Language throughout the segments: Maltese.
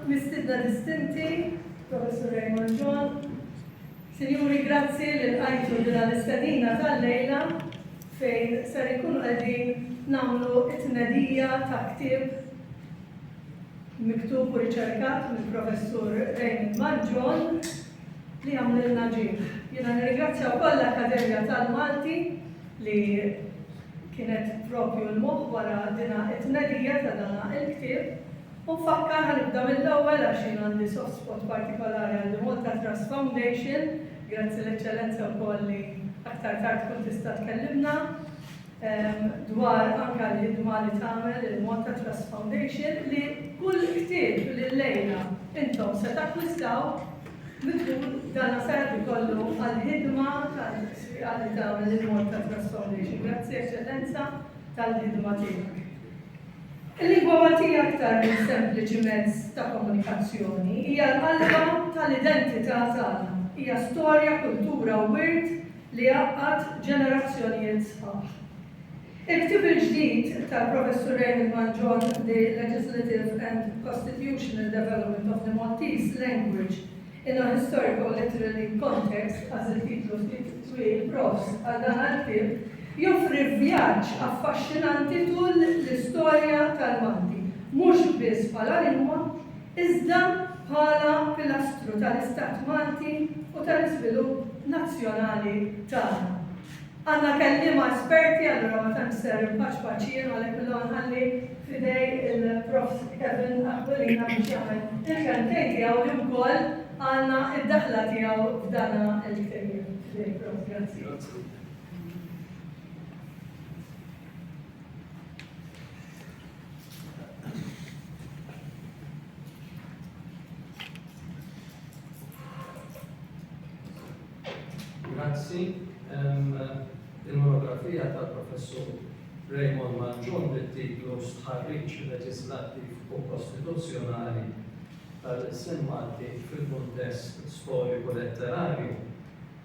Mistiedna distinti, Professur Raymond John, Sinjuri grazzi li lqajtu lilna l-istedina tal-lejla fejn ser inkunu qegħdin nagħmlu t-tnedija ta' ktieb miktub u riċerkat mill-Professur Raymond Mal John li għamlilna ġieħ. Jiena nirringrazzja wkoll l-Akkademja tal-Malti li kienet propju l-moħħ wara dina t-tnedija ta' dana il-ktieb U nfakkar, ħa nibda mill-ewwel għax jien għandi soft spot partikolari għal The Malta Trust Foundation, grazzi l-Eċċellenza wkoll li aktar tard tkun tista' tkellimna dwar anke l-ħidma li tagħmel il-Malta Trust Foundation li kull ktieb li llejla intom se takkwistaw mitlub dan sar ikollu għall-ħidma tal-sfiqa li tagħmel il-Malta Trust Foundation. Grazzi Eċċellenza tal-ħidma tiegħek. Il-lingwa Maltija aktar minn sempliċi mezz ta' komunikazzjoni, hija l-qalba tal-identità tagħna, hija storja, kultura u wirt li jgħaqqad ġenerazzjonijiet sħaħ. Il-ktieb il-ġdid tal-Professur Raymond Mangion The Legislative and Costitutional Development of the Maltese Language In a historical literary context, għażilt titlu ftit twil, profs għal dan għall-ktieb, joffri vjaġġ affaxxinanti tul l-istorja tal-Malti, mhux biss bħala lingwa, iżda bħala pilastru tal-Istat Malti u tal-iżvilupp nazzjonali tagħna. Għandna kelliema esperti allura ma tantx ser inpaċpaċ jien u għalhekk illum nħalli f'idej il-Prof. Kevin Aquilina biex jagħmel il-kelmtejn tiegħu li wkoll għandna d-daħla tiegħu f'dana l-ftehim. F'idejk Prof. Grazzi. Grazzi. Il-monografija tal-Professur Raymond Mangion bit-titlu Stħarriġ leġislattiv u kostituzzjonali tal-ilsien Malti fil-kuntest storiku-letterarju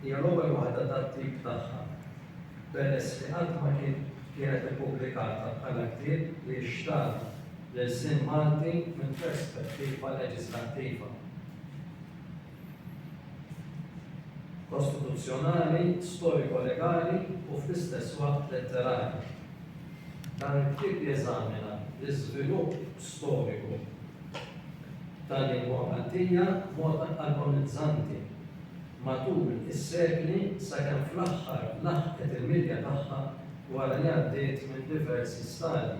hija l-ewwel waħda tat-tip tagħha, peress li qatt ma kienet ippubblikata bħala ktieb li jixtarr l-ilsien Malti minn perspettiva leġislattiva. kostituzzjonali, storiko-legali u fl-istess waqt letterarji. Dan il-ktieb jeżamina l-iżvilupp storiku tal-lingwa Maltija b'mod agonizzanti matul is-sekli sakemm fl-aħħar laħqet il-milja tagħha wara li għaddiet minn diversi stadji,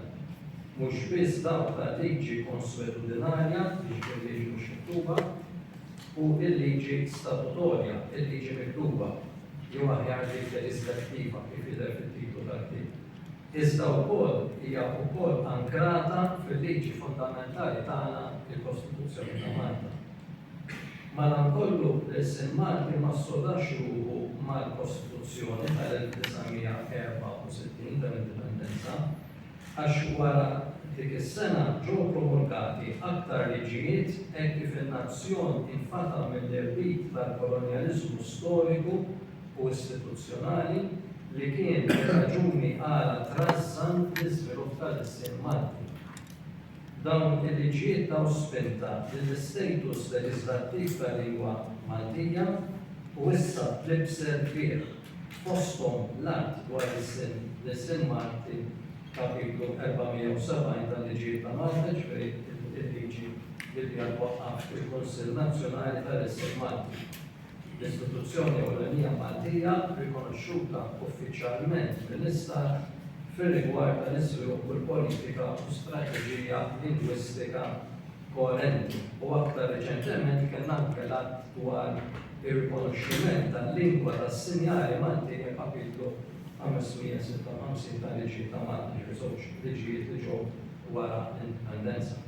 mhux biss dawk tal-liġi konswetudinarja, jiġifieri liġi mhux miktuba, u l-liġi statutorja, il-liġi miktuba, jew aħjar dik leġiżlattiva, kif jidher fit-titlu tal-ktieb, iżda wkoll hija wkoll ankrata fil-liġi fundamentali tagħna, il-Kostituzzjoni ta' Malta. Madankollu, Nelson Martin ma ssodax ruħu mal-Kostituzzjoni tal-1964 tal-Indipendenza għax wara dik is-sena ġew promulgati aktar liġijiet hekk kif in-nazzjon infata mill-irbit tal-kolonjaliżmu storiku u istituzzjonali li kien ir-raġuni għala trażżan l-iżvilupp tal-ilsien Malti. Dawn il-liġijiet taw spinta lill-istatus leġiżlattiv tal-lingwa Maltija u issa tlibset bih, fosthom l-Att dwar is-Sin, l-Isem Malti, Kapitlu 470 tal-Liġijiet ta' Malta, jiġifieri l-liġi li biha twaqqaf il-Kunsill Nazzjonali tal-Isem Malti. l-istituzzjoni ewlenija Maltija rikonoxxuta uffiċjalment mill-Istat fir-rigward tal-iżvilupp u l-politika u strateġija lingwistika koerenti, u aktar riċentement kellna anke l-Att dwar ir-Rikonoxximent tal-Lingwa tas-Sinjali Maltin u l-Kapitlu 556 tal-Liġi ta' Malta, ġifieri żewġ liġijiet li ġew wara l-Indipendenza.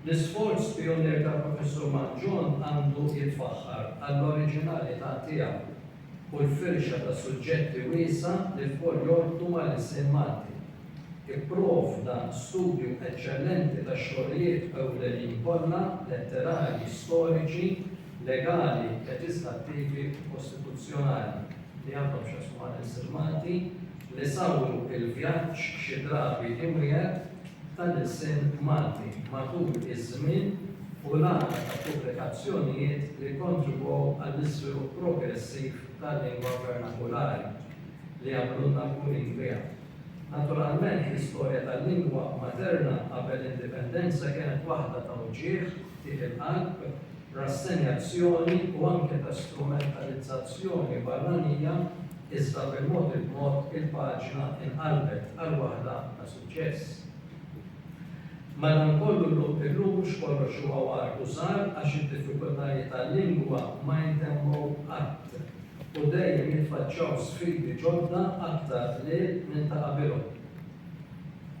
L-isforz pijunier ta' Professur Mangion għandu jitfaħħar għall-oriġinalità tiegħu u l-firxa ta' suġġetti wiesgħa li lkoll jorbtu mal-ilsien Malti. Ipprovda studju eċċellenti tax-xogħlijiet ewlenin kollha, letterarji, storiċi, legali, leġislattivi u kostituzzjonali, li għandhom x'jaqsmu mal-ilsien Malti, li sawru l-vjaġġ xi drabi imwiegħed tal-ilsien Malti matul iż-żmien u l-għadd ta' pubblikazzjonijiet li kkontribwew għall-iżvilupp progressiv tal-lingwa vernakulari li għamlulna kburin biha. Naturalment, l-istorja tal-lingwa materna qabel l-Indipendenza kienet waħda ta' uġigħ, tih il-qalb, rassenjazzjoni u anke ta' strumentalizzazzjoni barranija iżda bil-mod il-mod il-paġna inqalbet għal waħda ta' suċċess. Madankollu illum mhux kollox huwa war u żgħar għax id-diffikultajiet għal-lingwa ma jintemmu qatt u dejjem jitfaċċaw sfidi ġodda aktar qliel minn ta' qabilhom.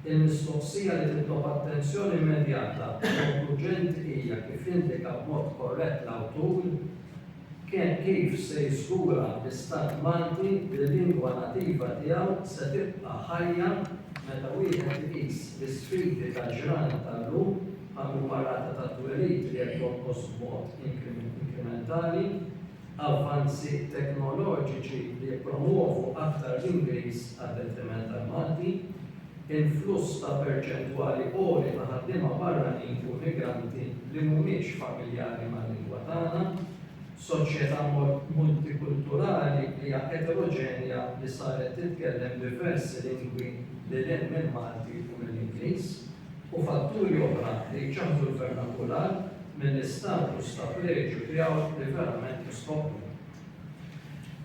Il-mistoqsija li titlob attenzjoni immedjata u urġenti hija kif indika b'mod korrett l-awtur kien kif se jiżgura li Stat Malti li l-lingwa nativa tiegħu se tibqa' ħajja meta wieħed iqis l-isfidi tal-ġranet tal-lum bħal huma rata tat-twelid li qed jonqos b'mod inkrimentali, avvanzi teknoloġiċi li jippromwovu aktar l-Ingliż għad-detriment tal-Malti, influss ta' perċentwali għoli ta' ħaddiema barranin u immigranti li mhumiex familjari mal-lingwa tagħna, soċjetà multikulturali li hija eteroġenja li saret titkellem diversi lingwi lil hinn mill-Malti u mill-Ingliż. u fatturi oħra li jċaħħdu l-vernakular mill-istatus ta' pleġju tiegħu li verament jistħoqqlu.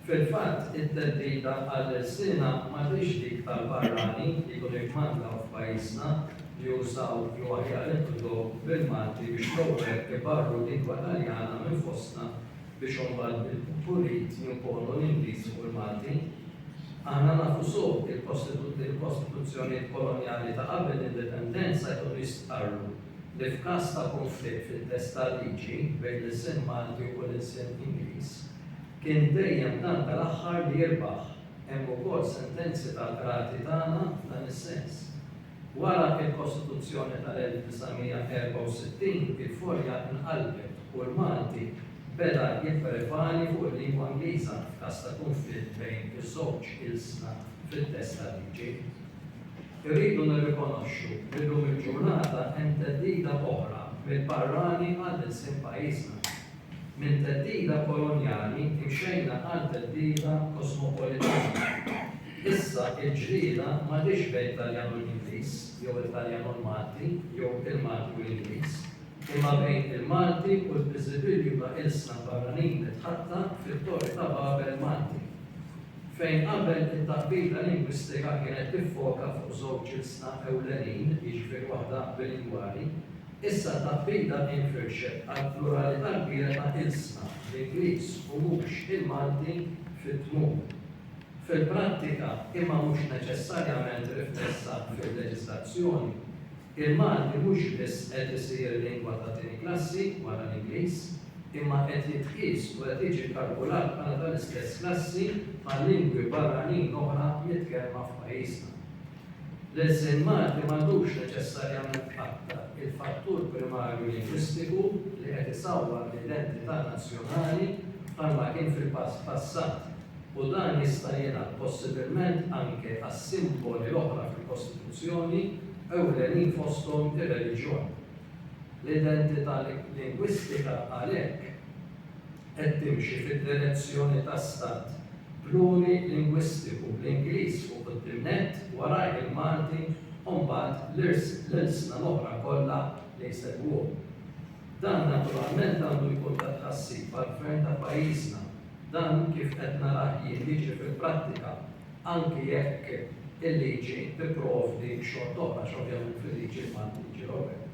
Fil-fatt, it-theddida għall-ilsiena m'għadhiex dik tal-barranin li jkunu jikmandaw f'pajjiżna li jużaw jew aħjar inkludow bil-Malti biex l-ewwel ibarru l-lingwa Taljana minn fostna biex imbagħad bil-pulit jimponu l-Ingliż fuq il-Malti. Aħna nafu sew li l-kostituzzjonijiet kolonjali ta' qabel l-Indipendenza jkunu jistqarru li f'każ ta' kunflitt fit-test tal-liġi bejn l-ilsien Malti u l-ilsien Ingliż, kien dejjem dan tal-aħħar li jirbaħ. Hemm ukoll sentenzi tal-Qrati tagħna f'dan is-sens. Wara l-Kostituzzjoni tal-1964, il-Furja nqalbet u l-Malti beda jipprevali fuq il-lingwa Ingliża f'każ ta' kunflitt bejn iż-żewġ ilsna fit-test tal-liġi. Irridu nirrikonoxxu li llum il-ġurnata hemm theddida oħra mill-barrani għall-ilsien f'pajjiżna. Minn theddida kolonjali imxejna għal theddida kosmopolitana. Issa l-ġlieda m'għadhiex bejn Taljan u l-Ingliż, jew il-Taljan u l-Malti, jew il-Malti u l-Ingliż, imma bejn il-Malti u l-biżibilju ta' ilsna barranin mitħatta fit-Torri ta' Babel Malti. Fejn qabel it-taqbida lingwistika kienet tiffoka fuq żewġ ilsna ewlenin, jiġifieri waħda bilingwali, Issa t-taħdita infirxet għall-pluralità kbira ta' ilsna, l-Ingliż u mhux il-Malti fit-tmun. Fil-prattika, imma mhux neċessarjament riflessa fil-leġiżlazzjoni, il-Malti mhux biss qed isir lingwa ta' tieni klassi wara l-Ingliż, imma qed jitqies u qed jiġi kkalkulat bħala tal-istess klassi bħal lingwi barranin oħra mitkellma f'pajjiżna. L-ilsien Malti m'għandux neċessarjament qatta' il-fattur primarju linguistiku li qed isawwar l-identità nazzjonali bħalma kien fil-passat u dan jista' jingħad possibilment anke għas-simboli l-oħra fil-Kostituzzjoni, ewlenin fosthom ir-reliġjon. L-identità lingwistika għalhekk. qed timxi fid-direzzjoni ta' stat plurilingwistiku bl-Ingliż fuq quddiem nett, warajh il-Malti u mbagħad l-ilsna l-oħra kollha li jsegwuh. Dan naturalment għandu jkun ta' tħassib għall-Gvern ta' pajjiżna. Dan kif qed narah jien jiġri fil-prattika anki jekk il-liġi tipprovdi xort'oħra għax ovvjament fil-liġi l-Malti jiġi l-ewwel.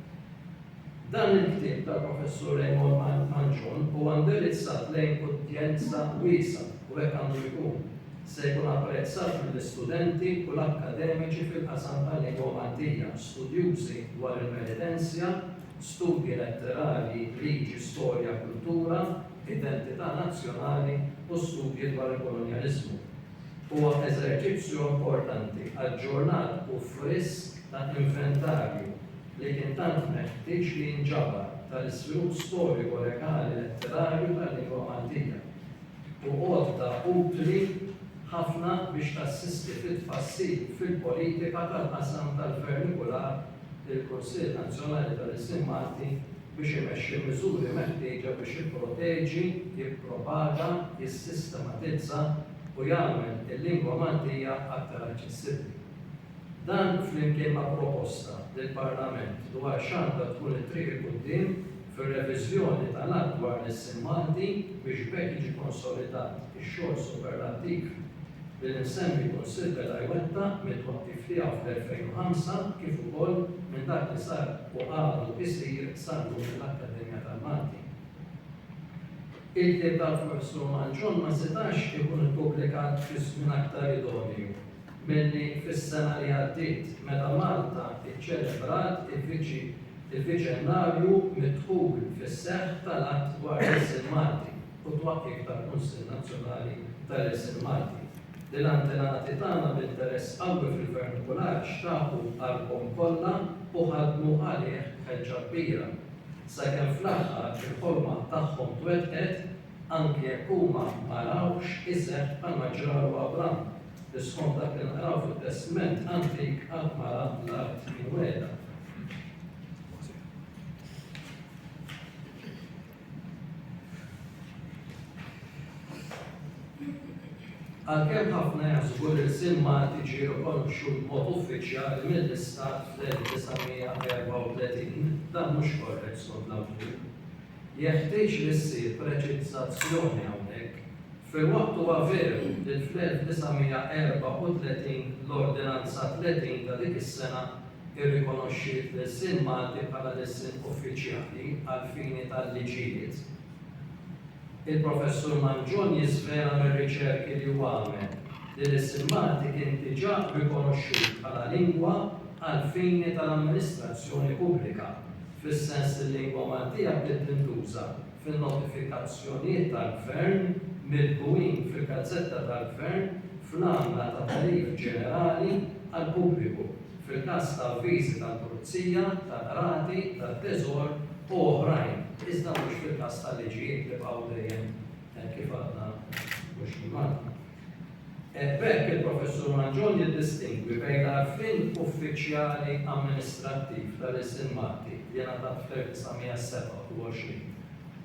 Dan il-ktieb tal-Professur Raymond Manchon huwa indirizzat lejn udjenza wiesgħa, u hekk għandu jkun. Se jkun apprezzat mill-istudenti u l-akkademiċi fil-qasam tal-lingwa Maltija, studjużi dwar il-penitenzja, studji letterarji, liġi, storja, kultura, identità nazzjonali u studji dwar il-kolonjaliżmu. Huwa eżerċizzju importanti, aġġornat u frisk ta' inventarju, li kien tant meħtieġ li jinġabar tal-iżvilupp storico-legali letterarju tal-lingwa Maltija, u għodda utli ħafna biex tassisti fit-tfassil fil-politika tal-qasam tal-vernikular il-Kunsill Nazzjonali tal-Ilsien Malti biex imexxi l-miżuri meħtieġa biex jipproteġi, jippropaga, jissistematizza u jagħmel il-lingwa Maltija aktar aċċessibbli. Dan flimkien ma' proposta lill-Parlament dwar x'għandha tkun it-triq 'il quddiem fir-reviżjoni tal-Att dwar l-Issimmandi biex b'hekk jiġi konsolidat ix-xogħol superlattiv li l-imsemmi Kunsill beda jwettaq mit-twaqqif tiegħu fl-2005 kif ukoll minn dak li sar u għadu jsir sal-lum mill-Akkademja tal-Malti. Il-ktieb tal-Professur Manzon ma setax ikun ippubblikat fi żmien aktar idonju. milli fis-sena li għaddiet meta Malta iċċelebrat il-viċennarju mid-dħul fis-seħħ tal-Att dwar l-Ilsien Malti u t-twaqqif tal-Kunsill Nazzjonali tal-Ilsien Malti, li l-antenati tagħna b'interess qawwi fil-vernakular xtaqu qalbhom kollha u ħadmu għalih b'ħeġġa kbira, sakemm fl-aħħar il-ħolma tagħhom twettqet anki jekk huma ma rawx iseħħ bħalma ġara u Abraham, li skont dak li naqraw fit-Testment Antik qatt ma ra l-art imwiegħda. Għalkemm ħafna jaħsbu li l-sim Malti ġie rikonoxxut b'mod uffiċjali mill-Istat fl-1934, dan mhux korrett skont l-awtur. Jeħtieġ li ssir preċiżazzjoni hawnhekk, filwaqt huwa veru li fl-1934 l-Ordinanza 30 ta' dik is-sena rrikonoxxiet l-ilsien Malti bħala l-ilsien uffiċjali għall-fini tal-liġijiet, il-Professur Mangion jiżvela mir-riċerki li hu għamel li l-ilsien Malti kien diġà rikonoxxut bħala lingwa għall-fini tal-amministrazzjoni pubblika. fis-sens li l-lingwa Maltija bdiet tintuża fin-notifikazzjonijiet tal-Gvern milqugħin fil-gazzetta tal-Gvern fl-għamla ta' tagħrif ġenerali għall-pubbliku, fil-każ ta' avviżi tal-pulizija, tal-qrati, tat-teżor u oħrajn, iżda mhux fil-każ ta' liġijiet li baqgħu dejjem hekk kif għadna mhux fil-Malti. Hekk b'hekk il-Professur Mangion jiddistingwi bejn l-għarfien uffiċjali amministrattiv ta' Lil Sin Malti li ngħatat fl-1927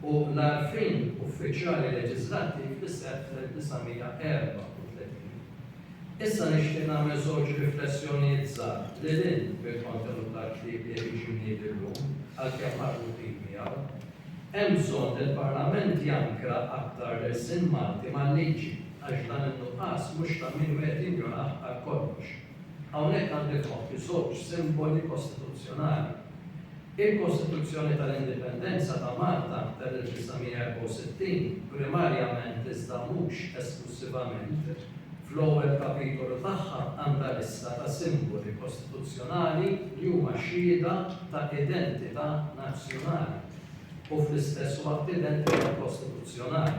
u l-għarfien uffiċjali leġiżlattiv li seħħ fl-1934. Issa nixtieq nagħmel żewġ riflessjonijiet żgħar lil hinn mill-kontenut tal-ktieb li qed jiġi mniedi llum, għalkemm marbutin miegħu. Hemm bżonn li l-Parlament jankra aktar l-ilsien Malti mal-liġi għax dan in-nuqqas mhux ta' min wieħed jinjorah għal kollox. Hawnhekk għandi f'moħħi żewġ simboli kostituzzjonali. Il-Kostituzzjoni tal-Indipendenza ta' Malta tal-1964, primarjament iżda mhux esklussivament, fl-ewwel kapitolu tagħha għandha lista ta' simboli kostituzzjonali li huma xhieda ta' identità nazzjonali u fl-istess waqt identità kostituzzjonali.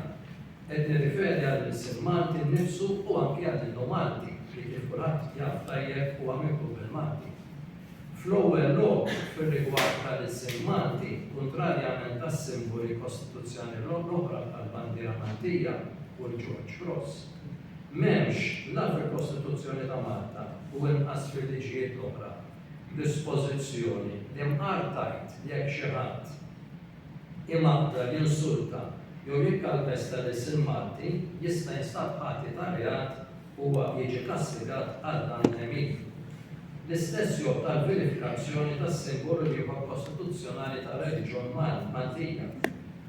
Qed nirriferi għall-ilsien Malti nnifsu u anki għall-innu Malti li kif kulħadd jaf tajjeb huwa miktueb bil-Malti. Fl-ewwel lok, fir-rigward tal-ilsien Malti, kuntrarjament għas-simboli kostituzzjonali l-oħra bħal bandiera Maltija u l-Ġorġ Kross, m'hemmx, la fil-Kostituzzjoni ta' Malta u inqas fil-liġijiet l-oħra, Dispożizzjoni li mqar tgħid li jekk xi ħadd imaqdar, jinsulta jew jikkalpesta lill-sin Malti jista' jinstab ħati ta' reat u huwa jiġi kastigat għal dan l-għemil. L-istess jgħodd għall-vilifikazzjoni tas-simbolu l-ieħor kostituzzjonali tar-reliġjon Maltija.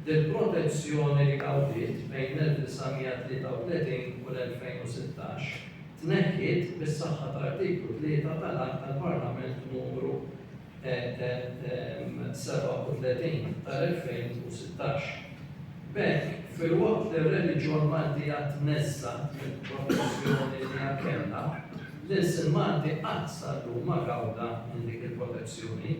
Dil-protezzjoni li gawdiet bejn l-1933 u l-2016, tneħħiet bis-saħħa ta' Artiklu 3 tal-Att tal-Parlament Numru 37 tal-2016. B'hekk, filwaqt li r-reliġjon Maltija tneżżgħet mill-protezzjoni li hija kellha, l-ilsien Malti qatt sal-lum ma gawda minn dik il-protezzjoni.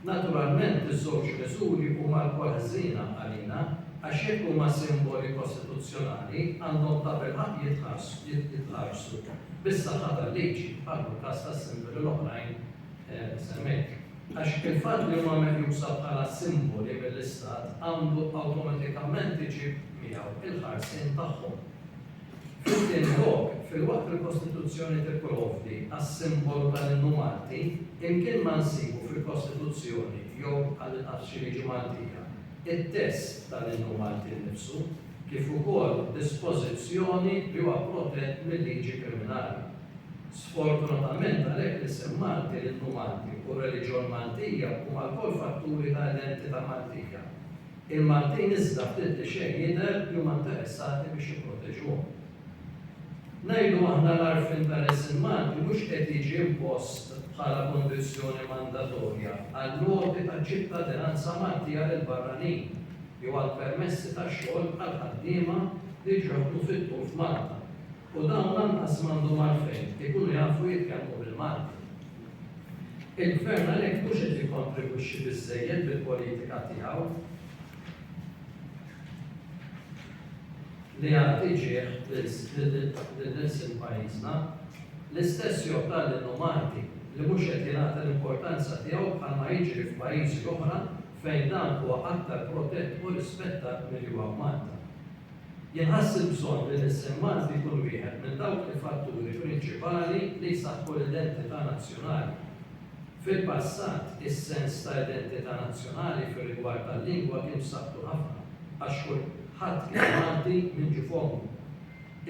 Naturalment iż-żewġ miżuri huma lkoll ħżiena għalina għax jekk huma simboli kostituzzjonali għandhom tabilħaqq jitħarsu bis-saħħa tal-liġi bħal fil-każ tas-simboli l-oħrajn li semmejt. Għax il-fatt li huma meqjusa bħala simboli mill-Istat għandu awtomatikament iġib miegħu l-ħarsien tagħhom. It-tieni lok, filwaqt li l-Kostituzzjoni tipprovdi għas-simbolu tal-innu Malti, imkien ma nsibu fil-Kostituzzjoni jew għall-inqas f'xi liġi Maltija, it-test tal-innu Malti nnifsu, kif ukoll dispożizzjoni li huwa protett mil-liġi kriminali. Sfortunatament għalhekk l-isem Malti, l-innu Malti u r-reliġjon Maltija huma lkoll fatturi ta' identità Maltija. Il-Maltin iżda ftit li xejn jidher li huma interessati biex jipproteġuhom. Ngħidu aħna l-għarfien ta' l-isem Malti mhux qed jiġi impost bħala kundizzjoni mandatorja għall-għoti ta' ċittadinanza Maltija lill-barranin jew għall-permessi ta' xogħol għall-ħaddiema li jiġu jaħdmu fit-tul f'Malta. u dawn lanqas m'għandhom għalfejn ikunu jafu jitkellmu bil-Malti. Il-Gvern għalhekk mhux qed jikkontribwixxi biżżejjed bil-politika tiegħu li jagħti ġieħ lil nilsin pajjiżna l-istess joħtar lil Malti li mhux qed jingħata l-importanza tiegħu bħalma jiġri f'pajjiżi oħra fejn dan huwa aktar protett u rispettat milli huwa f'Malta. Jħass il-bżonn li l-isem Malti jkun wieħed minn dawk il-fatturi prinċipali li jsaħħu l-identità nazzjonali. Fil-passat, is-sens ta' identità nazzjonali fir-rigward tal-lingwa kien b'saħħtu ħafna għax kulħadd kien Malti minn ġie f'ommu.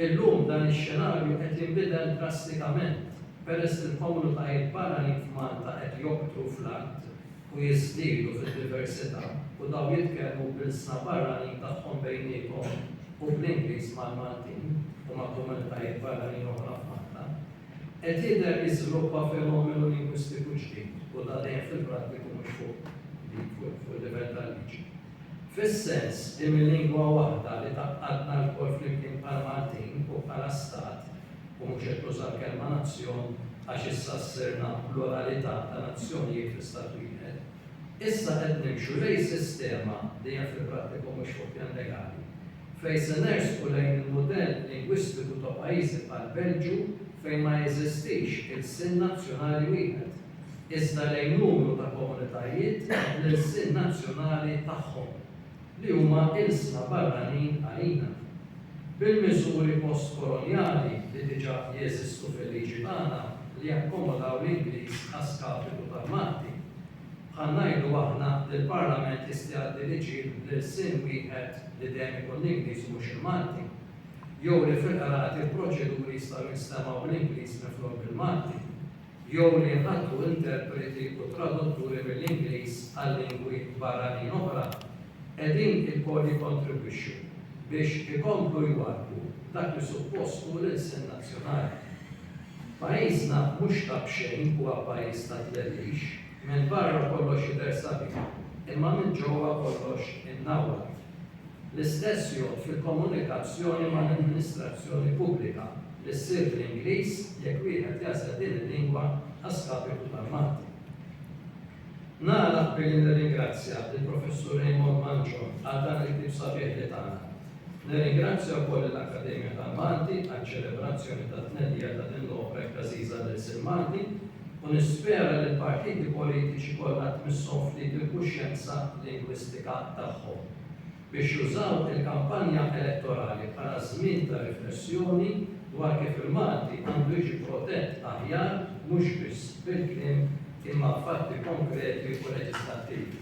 Illum dan ix-xenarju qed jinbidel drastikament peress li l-komunitajiet barranin f'Malta qed joktru fl-għadd u jiżdiedu fid-diversità u dawn jitkellmu bl-ilsna barranin tagħhom bejniethom u bl-Ingliż mal-Maltin u ma' komunitajiet barranin oħra f'Malta, qed jidher li żviluppa fenomenu lingwistiku ġdid u ta' dejn fil-prattiku mhux fuq il-livell tal-liġi. Fis-sens li mil-lingwa waħda li tgħaqqadna lkoll flimkien bħala Maltin u bħala Stat, u mhux qed nuża l-kelma nazzjon għax issa ssirna pluralità ta' nazzjonijiet fi Stat wieħed, issa qed nimxu lejn sistema li hija fil-prattiku mhux fuq pjan legali, fejn se nersqu lejn il-mudell lingwistiku ta' pajjiżi bħall-Belġju fejn ma jeżistix ilsien nazzjonali wieħed. iżda lejn numru ta' komunitajiet bl-ilsien nazzjonali tagħhom, li huma ilsna barranin għalina. Bil-miżuri post-kolonjali li diġà jeżistu fil-liġi tagħna li jakkomodaw l-Ingliż a skapitu tal-Malti, bħal ngħidu aħna li l-Parlament jista' jgħaddi liġijiet bl-ilsien wieħed li dejjem ikun l-Ingliż u mhux il-Malti, jew li fil-qrati l-proċeduri jistgħu jinstemgħu bl-Ingliż minflok bil-Malti. jew li jħalltu interpreti u tradutturi mill-Ingliż għal lingwi barranin oħra, qegħdin ukoll jikkontribwixxu biex ikomplu jwarrbu dak li suppost hu l-ilsien nazzjonali. Pajjiżna mhux ta' b'xejn huwa pajjiż ta' tlellix, minn barra kollox jidher sabiħ, imma minn ġewwa kollox imnawwat. L-istess jgħodd fil-komunikazzjoni mal-amministrazzjoni pubblika li ssir bl-Ingliż jekk wieħed jagħżel din il-lingwa a skapitu tal-Malti. Nagħlaq billi nirringrazzja lill-Professur Raymond Manchon għal dan il-ktieb sabiħ li tana. Nirringrazzja wkoll lill-Akkademja tal-Malti għaċ-ċelebrazzjoni tat-tnedija ta' din l-opra hekk għażiża lill-lsien Malti. u nispera li l-partiti politiċi kollha tmisshom ftit il-kuxjenza lingwistika tagħhom biex jużaw il-kampanja elettorali bħala żmien ta' riflessjoni dwar kif il-Malti għandu jiġi protett aħjar mhux biss bil-kliem imma b'fatti konkreti u leġislattivi.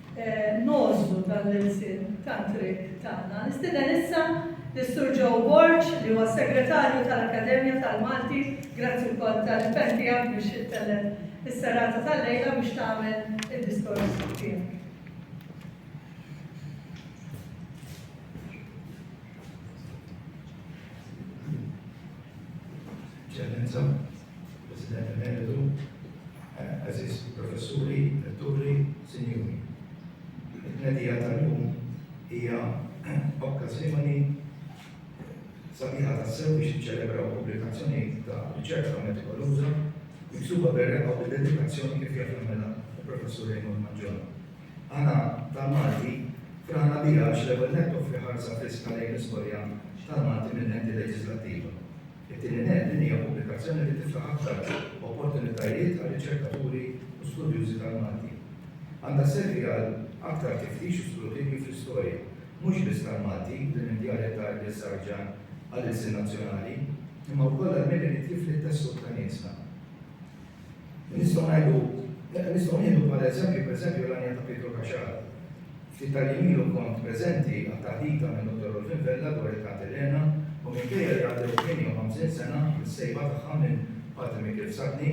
nogħżlu dan l-ilsien tat-triq tagħna. Nistieden issa lis-Sur Joe Borg li huwa s-Segretarju tal-Akkademja tal-Malti, grazzi wkoll tal-impenn tiegħek biex ittellel is-serata tal-lejla biex tagħmel id-diskors tiegħek. Ċellenza. President Emeritu, Aziz Professuri, Retturi, Sinjuri. Il-tnedija tal-lum hija okkażjoni sabiħa ta' sew biex iċċelebraw pubblikazzjoni ta' riċerka metikoluża miksuba berreqa u dedikazzjoni kif jaf jagħmilha il-Professur Raymond Maġġor. Għana tal-Malti frana bija għax l-ewwel nettu fri ħarsa friska lejn l-istorja tal-Malti minn enti leġislattiva. It-tieni nett, din hija pubblikazzjoni li tiftaħ aktar opportunitajiet għal riċerkaturi u studjużi tal-Malti. Għandha sservi għal aktar tiftix u skrutinju fl-istorja, mhux biss tal-Malti, din id-djarja ta' Iblies Sarġan għall-ilsien nazzjonali, imma wkoll għal min irid jifli t-tessut ta' niesna. Nistgħu ngħidu, nistgħu nieħdu bħala eżempju pereżempju l-għanja ta' Pietru Kaxxar. Ftit tal-jiem ilu kont preżenti għat-taħdita minn Dottor Rolfin Vella dwar it-Tant Elena u minkejja li għaddew 58 sena mis-sejba tagħha minn Patri Mikiel Sadni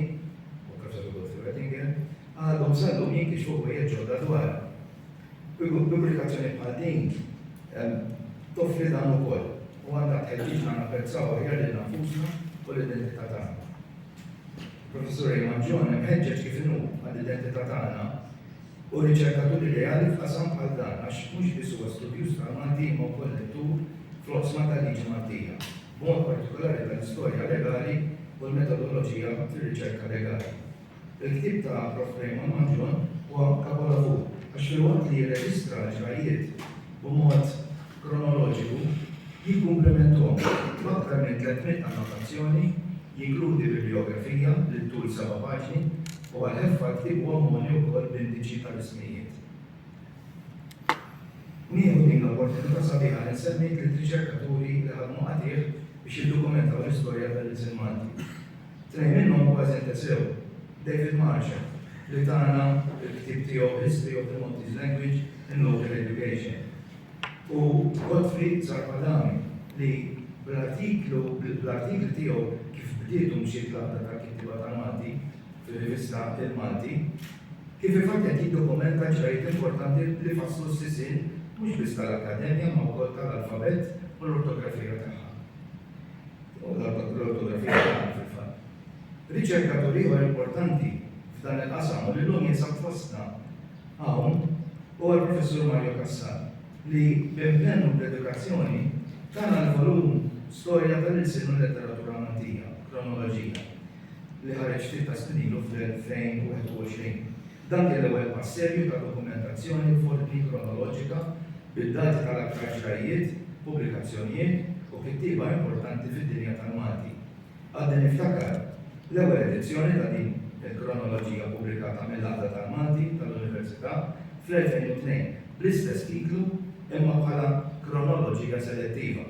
u Kafsatu Godfrey Wettinger, għadhom sallum jinkixfu ħwejjeġ ġodda dwar. Pubblikazzjoni bħal din toffri dan ukoll u għandha tħeġġiġna napprezzaw aħjar lil nfusna u l-identità tagħna. Professur Eamonn John imħeġġeġ kif inhu għall-identità tagħna u riċerkatur ideali f'qasam bħal dan għax mhux biss huwa studjuż tal-Malti imma wkoll lettur fl-oqsma tal-liġi Maltija, b'mod partikolari tal-istorja legali u l-metodoloġija fir-riċerka legali. Il-ktieb ta' Prof. Raymond Mangion huwa kapolavur għax filwaqt li jirreġistra l-ġrajjiet b'mod kronoloġiku jikkumplementhom b'aktar minn 300 annotazzjoni, jinkludi bibliografija li ttul seba' paġni, u għal ħeffa-ktieb huwa mogħni wkoll b'indiċi tal-ismijiet. Nieħu din l-opportunità sabiħa li nsemmi tliet riċerkaturi li ħadmu qatigħ biex jiddokumentaw l-istorja tal-ilsien Malti. Tnejn minnhom kważi ntesew, David Marshall, li tana l-ktieb tiegħu History of the Maltese Language in Local Education, u Gottfried Zappalami li bl-artiklu bl-artikli tiegħu kif bdiet u mxiet l-għaqda tal-kittieba tal-Malti fir-rivista Il-Malti, kif il-fatt qed jiddokumenta l-ġrajjiet importanti li fasslu s-sisien mhux biss tal-Akkademja imma wkoll tal-alfabett u l-ortografija tagħha. U l-ortografija tagħha fil-fatt. Riċerkatur ieħor importanti f'dan il-qasam u li llum jinsab fostna Hawn huwa l-Professur Mario Cassar li, b'impenn u b'dedikazzjoni, tana l-volum Storja tal-Ilsien u l-Letteratura Maltija, Kronoloġija, li ħareġ ftit ta' snin ilu fl-2021. Dan kien l-ewwel pass serju ta' dokumentazzjoni u f'ordni kronoloġika bid-dati tal-aktar ġrajjiet, pubblikazzjonijiet u kittieba importanti fid-dinja tal-Malti. Għadni niftakar l-ewwel edizzjoni ta' din il-kronoloġija ppubblikata mill-Għaqda tal-Malti tal-Università fl-2002 bl-istess titlu imma bħala kronoloġija selettiva.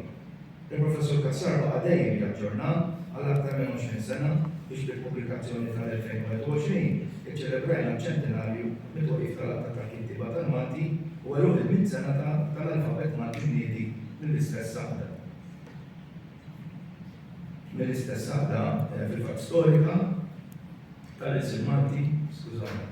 Il-Professur Cassar baqa' dejjem jaġġornha għal aktar minn għoxrin sena biex bil-pubblikazzjoni tal-2021 iċċelebrajna ċ-ċentenarju mit-twaqqif tal-Għaqda tal-Kittieba tal-Malti u għeluq il-mitt sena tal-alfabet Malti mniedi mill-istess Għaqda. mill-istess għadda fil-fatt storika tal-Isil Malti, skużani.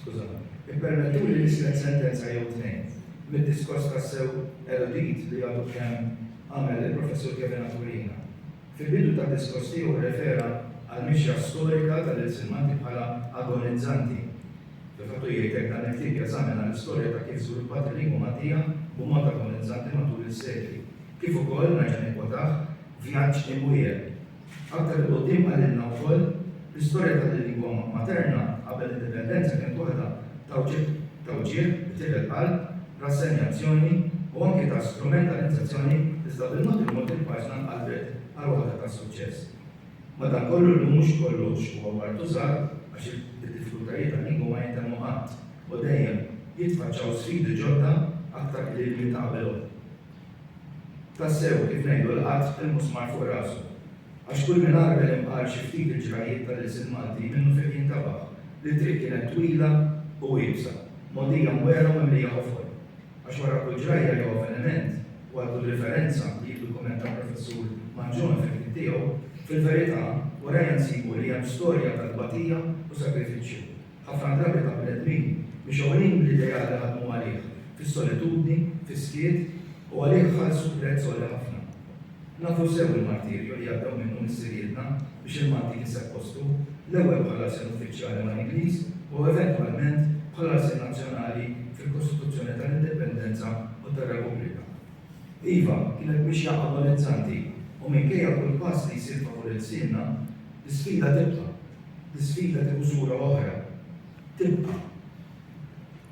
Skużani. Ippermettu li nislet sentenza jew tnejn mid-diskors ta' sew erudit li għadu kemm għamel il-professur Kevin Aturina. Fil-bidu ta' diskors tiegħu refera għal mixja storika tal-Isil Malti bħala agonizzanti Li fatt hu jgħid hekk dan il-ktieb jeżamina l-istorja ta' kif żviluppat il-lingwa Maltija b'mod agonnizzanti matul is-sekli. Kif ukoll, nerġa' nikkwotah, vjaġġ imwiegħel. Aktar 'il quddiem qalilna wkoll, L-istorja tal-lingwa materna qabel l-Indipendenza kienet waħda ta' wġigħ, ta' wġigħ, b'tieħel qalb, rassenjazzjoni u anki ta' strumentalizzazzjoni iżda bil-mod il-mod il-paġna nqalbet għal waħda ta' suċċess. Madankollu llum mhux kollox huwa martużat għax id-diffikultajiet tal-lingwa ma jintemmu qatt u dejjem jitfaċċaw sfidi ġodda aktar qliel minn ta' qabelhom. Tassew, kif ngħidu l-qatt il-musmar fuq rasu. Għax kull min għarbel imqar xi ftit il-ġrajjiet tal-ilsien Malti minnu fih jintabaħ li t-triq kienet twila u iebsa, mogħdija mwera u mimlija qofol. Għax wara kull ġrajja jew avveniment u għal kull riferenza li jiddukumenta l-Professur Mangion fil-ktieb tiegħu, fil-verità, warajha nsibu li hemm storja ta' tbatija u sagrifiċċju, ħafna drabi ta' bnedmin mixgħulin bl-ideal li ħadmu għalih fis-solitudni, fis-skiet u għalih ħallsu prezz għoli ħafna. Nafu sew il-martirju li għaddew minnu missirijietna biex il-Malti kiseb postu, l-ewwel bħala lsien uffiċjali mal-Ingliż u eventwalment bħala lsien nazzjonali fil-Kostituzzjoni tal-Indipendenza u tar-Repubblika. Iva, kienet mixja agonizzanti u minkejja kull pass li jsir favur ilsienna, l-isfida tibqa'. L-isfida tieħu sura oħra. Tibqa'.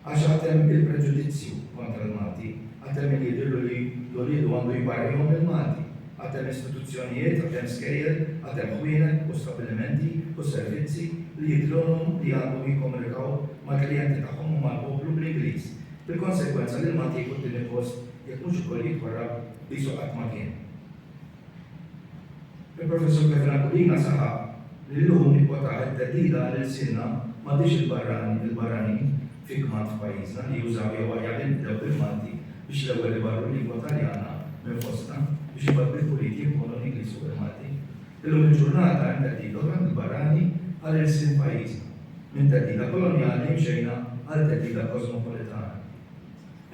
Għax għad hemm il-preġudizzju kontra l-Malti, għad hemm min jidhirlu li l-uliedu għandu jbarrihom mill-Malti, għad hemm istituzzjonijiet, għad hemm skejjel, għad hemm ħwienet u stabbilimenti u servizzi li jidhrilhom li għandhom jikkomunikaw mal-klijenti tagħhom u mal-poplu bl-Ingliż, bil-konsegwenza li l-Malti jieħu t-tieni post jekk mhux ukoll jitwarrab qisu qatt ma kien. Il-Professur Petrangulina saħaq li llum ikkwotah it-theddida għal ilsienna m'għadhiex il-barrani il-barranin fi kmand f'pajjiżna li jużaw jew aħjar li nibdew bil-Malti biex l-ewwel ibarru l-lingwa Taljana minn fostna biex imbagħad bil-puliti impoonu l-Ingliż fuq il-Malti. Illum il-ġurnata hemm theddida oħra mill-barrani għal ilsien pajjiżna. Minn theddida kolonjali mxejna għal theddida kosmopolitana.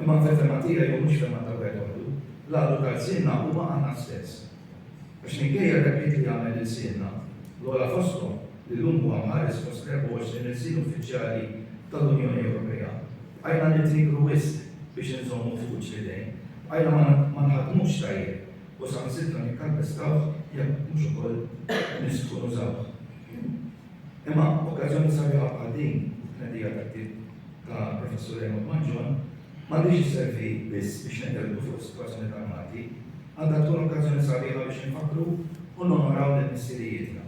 Imma fil-fehma tiegħi u mhux fehma ta' wieħed waħdu, l-għadu ta' lsienna huma aħna stess. Għax minkejja r-rebħiet li jagħmel lilsienna, l-ogħla fosthom li llum huwa mħares fost l-24 ilsien uffiċjali tal-Unjoni Ewropea, bqajna nitnikru wisq biex inżommu f'kuċċ l-idejn, bqajna ma nħaddmux tajjeb u saħansitra nikkalpestawh jekk mhux ukoll nisħqu nużawh. Imma okkażjoni sabiħa bħal din, it-tnedija tat-tip ta' Professur Raymond Mangion, m'għandhiex isservi biss biex nitkelmu fuq is-sitwazzjoni tal-Malti, għandha tkun okkażjoni sabiħa biex infakkru u nonoraw lil missirijietna.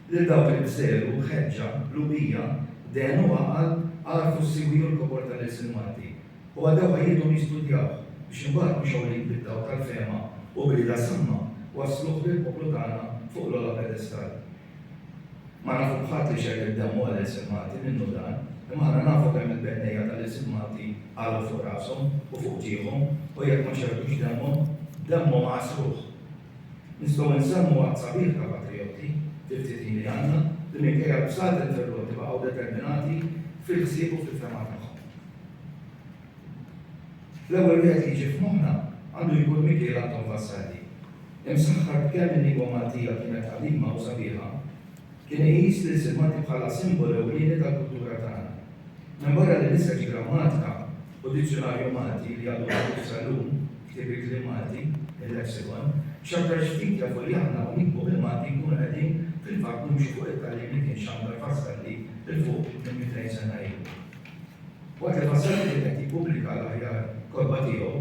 Lil dawk li b'żelu, ħeġġa, qlubija, dehen u għaqal għarfu s-siwi u l-kobor tal-ilsien Malti u għaddew ħajjithom jistudjawh biex imbagħad mixgħulin bid-dawl tal-fehma u b'rieda samma wassluh lill-poplu tagħna fuq l-ogħla pedestall. Ma nafu b'ħadd li xeħ id-demm u qal insimmati, minnu dan? Imma aħna nafu kemm il-bennejja tal-insimmati qalgħu fuq rashom u fuq ġieħhom u jekk ma xerrdux demmhom, demmhom għassruh. Nistgħu nsemmu għadd sabiħ ta' patrijotti, fil-ftit ħin li għandna, li minkejja l-bsat interrotti baqgħu determinati fil-ħsieb u fil-fehma tagħhom. L-ewwel wieħed li jiġi f'moħħna għandu jkun Mikiel Anton Vassalli. Imsaħħar b'kemm il-lingwa Maltija kienet qadima u sabiħa, kien iqis lil Sid Malti bħala simbolu ewlieni tal-kultura tagħna. Minbarra li niseġ grammatika u dizzjunarju Malti li għadu miftuħ sal-lum, ktieb il-kliem Malti, il-Lexicon, x'aktarx ftit jafu li aħna u nikbu bil-Malti nkunu qegħdin fil-fatt nimxu fuq it-tagħlim li kien xandar Vassalli 'l fuq minn mitejn sena ilu. Waqt li Fassett kien qed jippubblika l-aħjar kotba tiegħu,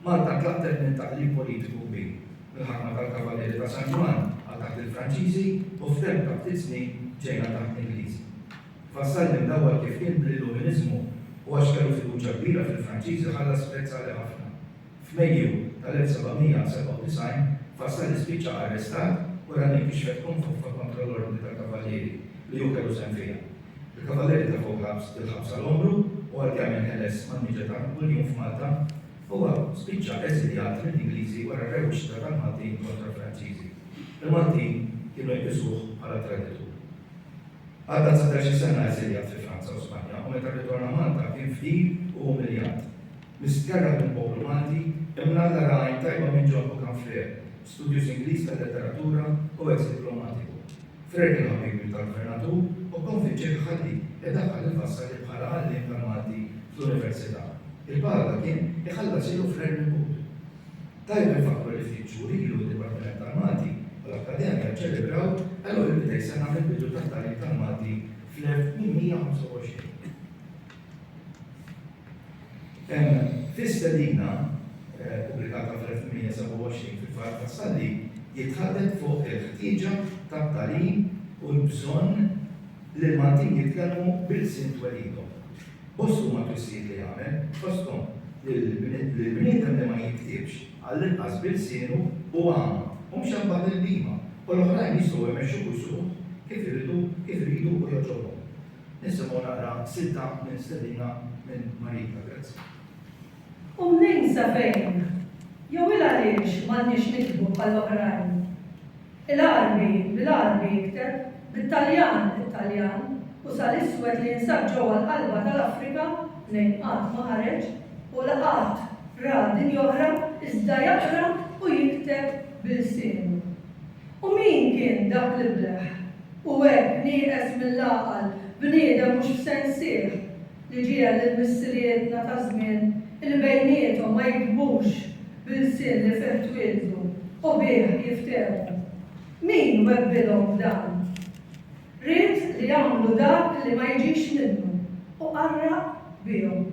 Malta ntlaqtet minn taqlib politiku kbir, mill-ħakma tal-Kavalieri ta' San Ġwann għal taħt il-Franċiżi u f'temp ta' ftit snin ġejna taħt l-Ingliżi. Fassett minn l-ewwel kif kien bl-Illuminiżmu u għax kellu fiduċja kbira fil-Franċiżi ħalla spjett sali ħafna. F'Mejju tal-1797, Fassali spiċċa arrestat u Rani nkixfet tkun foffa kontra l-Ordni tal-Kavallieri li hu kellu sehem fiha. Il-Kavallieri tefgħu bl-ħabs bil-ħabs għal għomru u għal kemm inħeles mal-miġja ta' Napuljun f'Malta, huwa spiċċa eżiljat mill-Ingliżi wara r-rewwixta tal-Maltin kontra l-Franċiżi. Il-Maltin kienu jqisuh bħala traditur. Għadda dsatax-il sena eżiljat fi Franza u Spanja u meta rritorna Malta kien fqir u umiljat. Misterra minn poplu Malti, imnalla ra għajn tajba minn John Occam Frere, studjuż Ingliż tal-letteratura u eks diplomatiku. Frere kien ħabib tal-Gvernatur u kkonvinċieh iħalli idaħħal lil Vassalli bħala għalliem tal-Malti fl-Università. Il-paga ta' kien iħallas ilu Frere mill-but. Tajjeb infakkru li ftit xhur ilu d-Dipartiment tal-Malti u l-Akkademja ċċelebraw l-200 sena mill-bidu tat-tagħlim tal-Malti fl-1825. Fi stedina ppubblikata fl-1827 fil-Fatt tas-Salli jitħaddem fuq il-ħtieġa tat-tagħlim u l-bżonn li l-Maltin jitkellmu b'ilsien twelidhom. Bost huma t-twissijiet li għamel, fosthom li l-bniedem li ma jiktibx, għall-inqas b'ilsienu hu għama u mhux hemm bad-ilbiema u l-oħrajn jistgħu jmexxu kull suq kif iridu u jogħġobhom. Nisimgħu naqra silta minn stedina minn Marika. Grazzi. U mnejn sa fejn? Jew il-għaliex m'għandniex niktbu bħall-oħrajn? Il-Għarbi bil-Għarbi jikteb, bit-Taljan it-Taljan, u sa l-iswed li jinsab ġewwa l-qalba tal-Afrika mnejn qatt ma ħareġ u la qatt ra dinja oħra iżda jaqra u jikteb b'ilsienu. U min kien dak l-ibleħ? U hekk, nieqes mill-għaqal, bniedem mhux f'sensih, li ġiegħel lil missirijietna ta' żmien li bejniethom ma jiktbux b'ilsien li fih twieldu u bih jiftehmu. Min webbilhom b'dan? Ried li jagħmlu dak li ma jiġix minnu u qarraq bihom.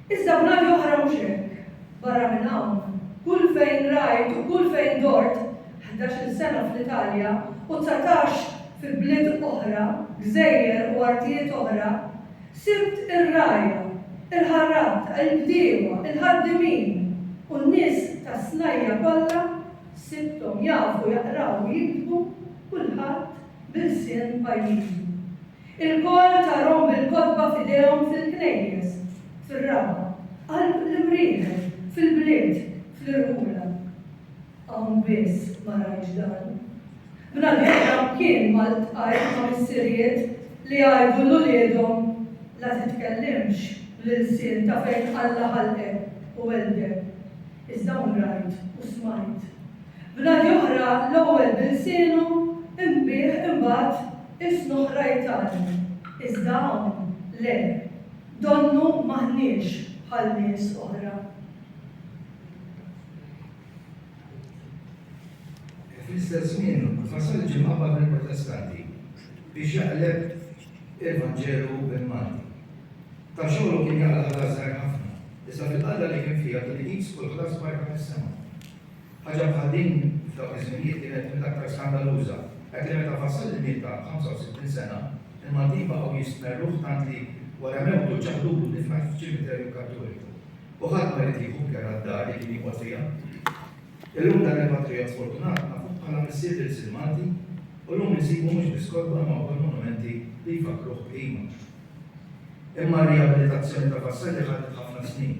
Iżda bnadi oħra mhux hekk. Barra minn hawn, kull fejn rajt u kull fejn dort, ħdax-il sena fl-Italja u dsatax fi bliet oħra, gżejjer u artijiet oħra, sibt ir-rgħajja, il-ħarrat, il-bdiewa, il-ħaddiemin u n-nies tas-snajja' kollha, sibthom jafu jaqraw u jiktbu, kulħadd b'ilsien pajjiżu. Ilkoll tarhom bil-kotba f'idejhom fil-knejjes, fir-raba', qalb l-imrieħel, fil-bliet, fl-irħula. Hawn biss ma rajtx dan. Bnadi Adam kien ma ltqajt ma' missirijiet li jgħidu 'l uliedhom la titkellimx bl-ilsien ta' fejn Alla ħalqek u weldek. Iżda hawn rajt u smajt. Bnadi oħra l-ewwel b'ilsienu, imbiegħ imbagħad Is l-oħrajn tagħna, iżda hawn le, donnu m'aħniex bħal nies oħra. Fl-istess żmien, fasal ġimgħa bad il-Protestanti biex jaqleb il-Vanġelu bil-Malti. Ta' xogħol kien jaqla ħlas ħafna, iżda fil-qadra li kien fija kien iqis kull ħlas barra fis-sema. Ħaġa bħal din f'dawk iż-żminijiet kienet mill-aktar skandaluża, hekk li meta fassal il-miet ta' 65 sena, il-Maltin baqgħu jistmerruh tant li wara mewtu ċaħdulu difn f'ċimiterju Kattoliku. U ħadd ma ried jieħu care għad-dar li kien joqgħod fiha. Illum dan il-patrijott sfortunat nafuh bħala missier lil Sid Malti u llum insibu mhux biss kotba imma wkoll monumenti li jfakkruh b'qima. Imma r-rijabilitazzjoni ta' Vassalli ħadet ħafna snin.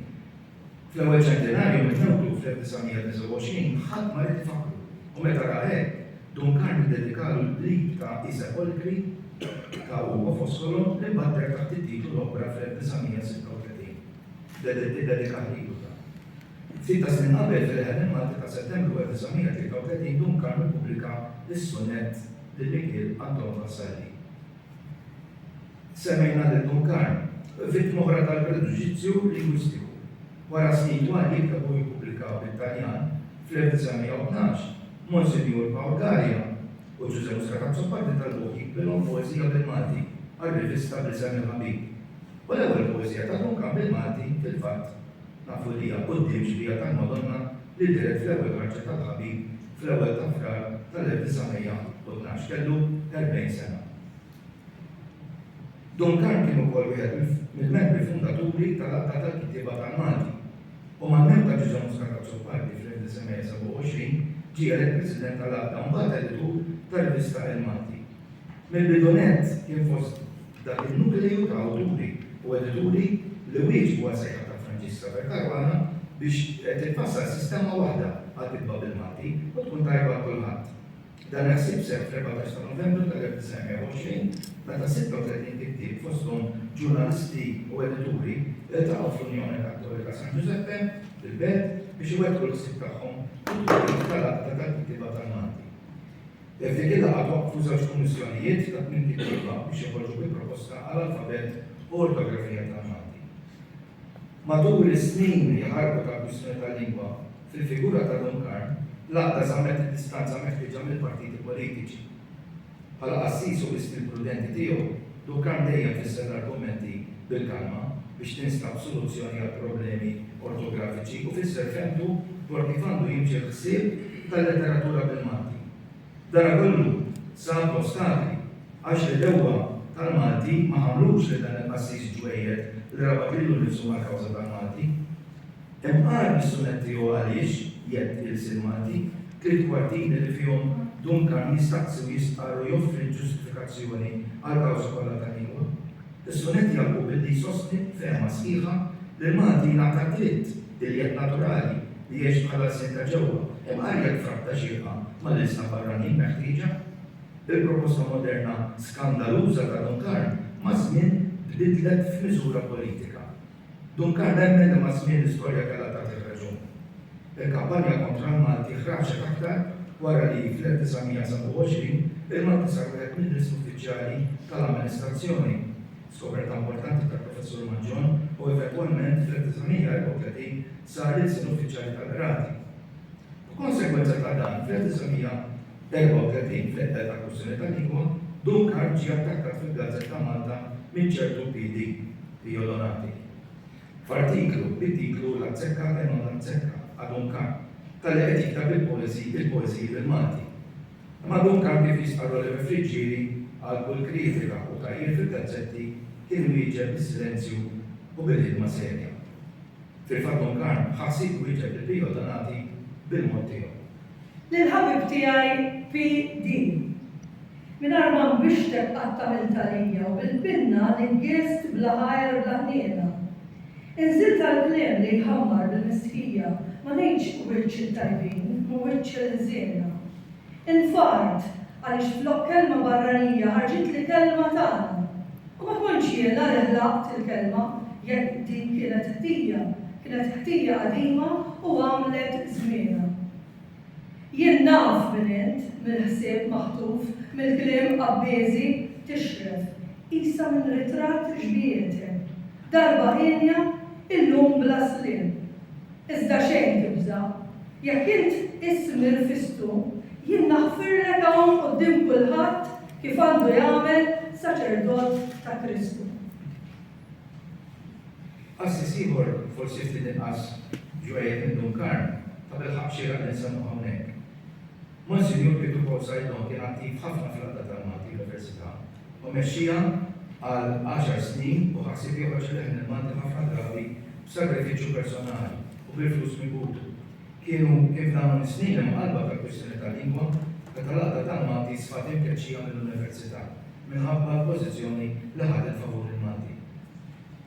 Fl-ewwel ċentenarju minn mewtu fl-1929 ħadd ma ried ifakkru u meta ra hekk, Duncan iddedikalu l-qrib ta' I Sepolkri ta' Ugo Foscolo li mbaddar taħt it-titlu L-Opra fl-1936. Iddedika lilu dan. Ftit taż-żmien qabel fil-Ħel il-Malti ta' Settembru 1933 Duncan ippubblika s-sunett lil Mikiel Anton Vassalli. Semmejna lil Dun Karm, vittma oħra tal-preġudizzju lingwistiku. Wara snin twal li jikteb u jippubblika bit-Taljan, fl-1912, Monsinjur Pawl Galea u Ġużè Muscat Azzopardi talbuh jiktbilhom poeżija bil-Malti għar-rivista bl-isem Il-Ħabib. U l-ewwel poeżija ta' Dun Karm bil-Malti, fil-fatt, Nafu li hija quddiem xbieha tal-Madonna li dehret fl-ewwel ħarġa tal-Ħabib fl-ewwel ta' Frar tal-1912, kellu 40 sena. Duncan kien ukoll wieħed mill-membri fundaturi tal-Għaqda tal-Kittieba tal-Malti u mal-mewt ta' Ġużè Muscat Azzopardi fl-1927 ġie elett President tal-Għaqda u mbagħad Editur tar-rivista Il-Malti. Mill-bidu nett kien fost dak in-nukleju ta' awturi u edituri li wieġbu għas-sejħa ta' Franġiska Vercaruana biex titfassal sistema waħda għall-kitba bil-Malti u tkun tajba għal kulħadd. Dan il-ħsieb seħħ fl-14 ta' Novembru tal-1920 meta 36 kittieb fosthom ġurnalisti u edituri iltaqgħu fl-Unjoni Kattolika San Ġużeppe fil-Belt biex iwettqu l-ħsieb tagħhom fit-twelid tal-Għaqda tal-Kittieba tal-Malti. Definir l-ABAP f'żewġ kummissjonijiet ta' tmien kittieba biex joħorġu bi proposta għal alfabett u ortografija tal-Malti. Matul is-snin li ħarbu tal-kwistjoni tal-lingwa, fil-figura ta' Dun Karm, l-Għaqda żammet id-distanza meħtieġa mill-partiti politiċi. Bħala qassis u b'istil prudenti tiegħu, Duncan dejjem fisser l-argumenti bil-kalma biex tinstab soluzzjoni għall-problemi ortografiċi u fisser fehmtu dwar kif għandu jimxi l-ħsieb tal-letteratura bil-Malti. Dana kollu sab l-ostakli għax l-għedewwa tal-Malti ma ħamlux lil dan il-qassis ġwejjed li rabat lilu nnifsu mal-kawża tal-Malti. Hemm għar mis-sunetti u għaliex, jgħid Ilse l-Malti, tliet kwartini li fihom Duncan jistaqsi u jistqarr u joffri l-ġustifikazzjoni għal kawżi kollha tal-lingwa. Is-sunett jagħlqu billi jsostni b'fehma sħiħa li l-Malti jingħata d-dritt iljiet naturali li jgħix bħall-lsien ta' ġewwa, imqar jekk f'rabta xierqa mal-ilsna barranin meħtieġa. Il-proposta moderna skandaluża ta' Duncarn maż-żmien tbiddlet f'miżura politika. Duncan nemmen li maż-żmien l-istorja kellha tagħtih raġun. Il-kampanja kontra l-Malti ħraġet aktar wara li fl-1927 il-Malti sar wieħed mill-ism uffiċjali tal-amministrazzjoni, skoperta importanti tal-Professur Mangion, u eventwalment fl-1934 sar l-ilsien uffiċjali tal-qrati. B'konsegwenza ta' dan, fl-1934, fl-eqda ta' kwistjoni ta' lingwa, Duncan ġie attakkat fil-gazzetta Malta minn ċertu PD, Pio Donati, f'artiklu bit-titlu L-Azzecca e non l'azzecca a Duncan, talli qed jikteb il-poeżiji bil-Malti. Imma Duncan, kif jistqarr Oliver Friggieri, għal kull kritika u tgħajjir fil-gazzetti kien iwieġeb bis-silenzju u bil-ħidma serja. Fil-fatt Don Karm ħa ħsieb iwieġeb lil Pio Donati bil-mod tiegħu. Lill-ħabib tiegħi PD. Mingħajr ma nbixtek qatt għamilt għalija u bil-pinna niggiest bla ħajr bla ħniena. Inżilt għall-kliem li jħammar bil-mistħija, ma ngħidx wiċċ it-tajbin, ma wiċċ il-ħżiena. Infart, għaliex flok kelma barranija ħarġitli kelma tagħna. U ma kontx jiena li ħlaqt il-kelma, jekk din kienet ħtija, kienet ħtija qadima u għamlet żmienha. Jien naf min int, mill-ħsieb maħtuf, mill-kliem qabbieżi, tixred, qisha minn ritratt xbiehetek, darba hienja, illum bla sliem. Iżda xejn tibża'. Jekk int tqiss nirfistu, jien naħfirlek hawn quddiem kulħadd kif għandu jagħmel saċerdot ta' Kristu. Qassis ieħor, forsi ftit inqas ġwejjed minn Dun Karm, tabilħaqq xieraq li nsemmuh hawnhekk. Monsinjur Pietru Paul Saidon kien attiv ħafna fl-għaqda tal-Malti Università. u mexxiha għal għaxar snin u ħa ħsieb joħroġ il leħen il-Malti ħafna drabi b'sagrifiċċju personali u bil-flus mibuta. Kienu kien f'dawn is-snin imqallba tal-kwistjoni tal-lingwa meta l-Għaqda tal-Malti sfat imkeċċija mill-Università minħabba l-pożizzjoni li ħadet favur il-Malti.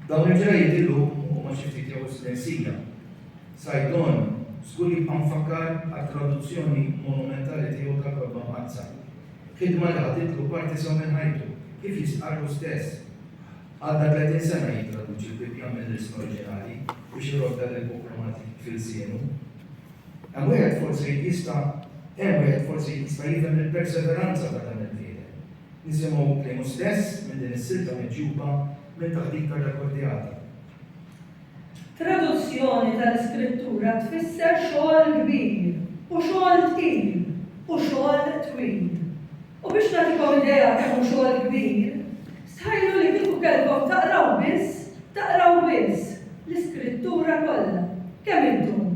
Dawn il-ġrajjiet illum huma xi ftit jew is-silensija. Saidon żgur jibqa' mfakkar għat-traduzzjoni monumentali tiegħu tal-Kotba Mqaddsa Ħidma li ħadd ilu parti sew minn ħajtu, kif jistqarr hu stess. Għadda 30 sena jittraduċi l-Bibbja mill-ilsna oriġinali biex iroddha lil Bukromati f'ilsienu. Hemm wieħed forsi jista' hemm wieħed forsi jista' jifhem il-perseveranza ta' dan il-bniedem. Nisimgħu kliemu stess minn din is-silta miġjuba minn taħdita rrekordjata. Traduzzjoni tal-Iskrittura tfisser xogħol kbir, u xogħol tqil, u xogħol twil. U biex nagħtikom idea kemm hu xogħol kbir, stħajlu li kieku kellkom taqraw biss, taqraw biss, l-Iskrittura kollha, kemm iddum?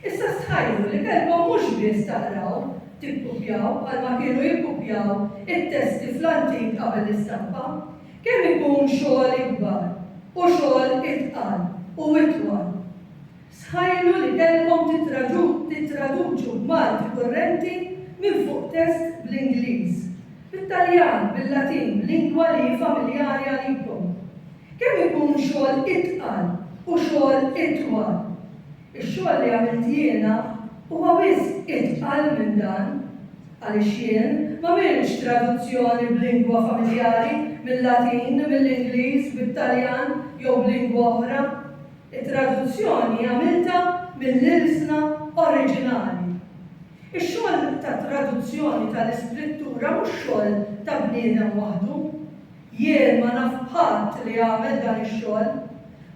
Issa stħajjru li kellkom mhux biss taqraw, tikkupjaw bħalma kienu jikkupjaw it-testi fl-antik qabel l-istampa. Kemm ikun xogħol ikbar u xogħol itqal u itwal! Stħajjru li kellkom tittraduċu b'Malti kurrenti minn fuq test bl-Ingliż, bit-Taljan, bil-Latin, b'lingwa li hi familjari għalikom. Kemm ikun xogħol itqal u xogħol itwal! Ix-xogħol li għamilt jiena huwa wisq itqal minn dan, għaliex jien m'għamiltx traduzzjoni b'lingwa familjari, mil-Latin, mill-Ingliż, bit-Taljan jew b'lingwa oħra. It-traduzzjoni għamiltha mill-ilsna oriġinali. Ix-xogħol ta' traduzzjoni tal-Iskrittura mhux xogħol ta' bniedem waħdu. Jien ma naf b'ħadd li għamel dan ix-xogħol.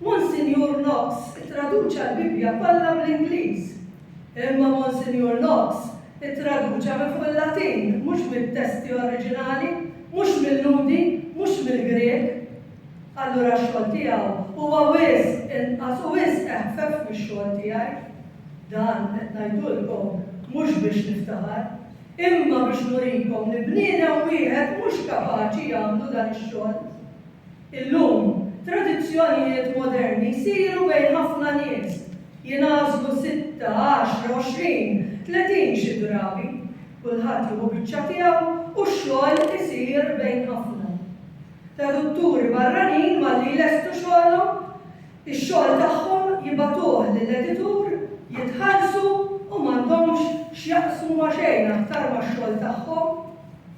Monsinjur Knox ittraduċa l-Bibbja kollha bl-Ingliż. Imma Monsinjur Knox ittraduċa minn fuq il-Latin, mhux mit-testi oriġinali, mhux mil-Lhudi, mhux mill-Grieg. Allura x-xogħol tiegħu huwa wisq inqas u wisq eħfef mix-xogħol tiegħi. Dan qed ngħidulkom mhux biex niftaħar. Imma biex nurikom li bniedem wieħed mhux kapaċi jagħmlu dan ix-xogħol. Illum, tradizzjonijiet moderni jsiru bejn ħafna nies, jingħażlu sitta, għaxra, għoxrin, tletin xi drabi, kulħadd jieħu biċċa tiegħu u x-xogħol isir bejn ħafna. Tradutturi barranin malli jlestu xogħolhom, Ix-xogħol tagħhom jibagħtuh lill-editur jitħallsu u m'għandhomx x'jaqsmu ma' xejn aktar max-xogħol tagħhom.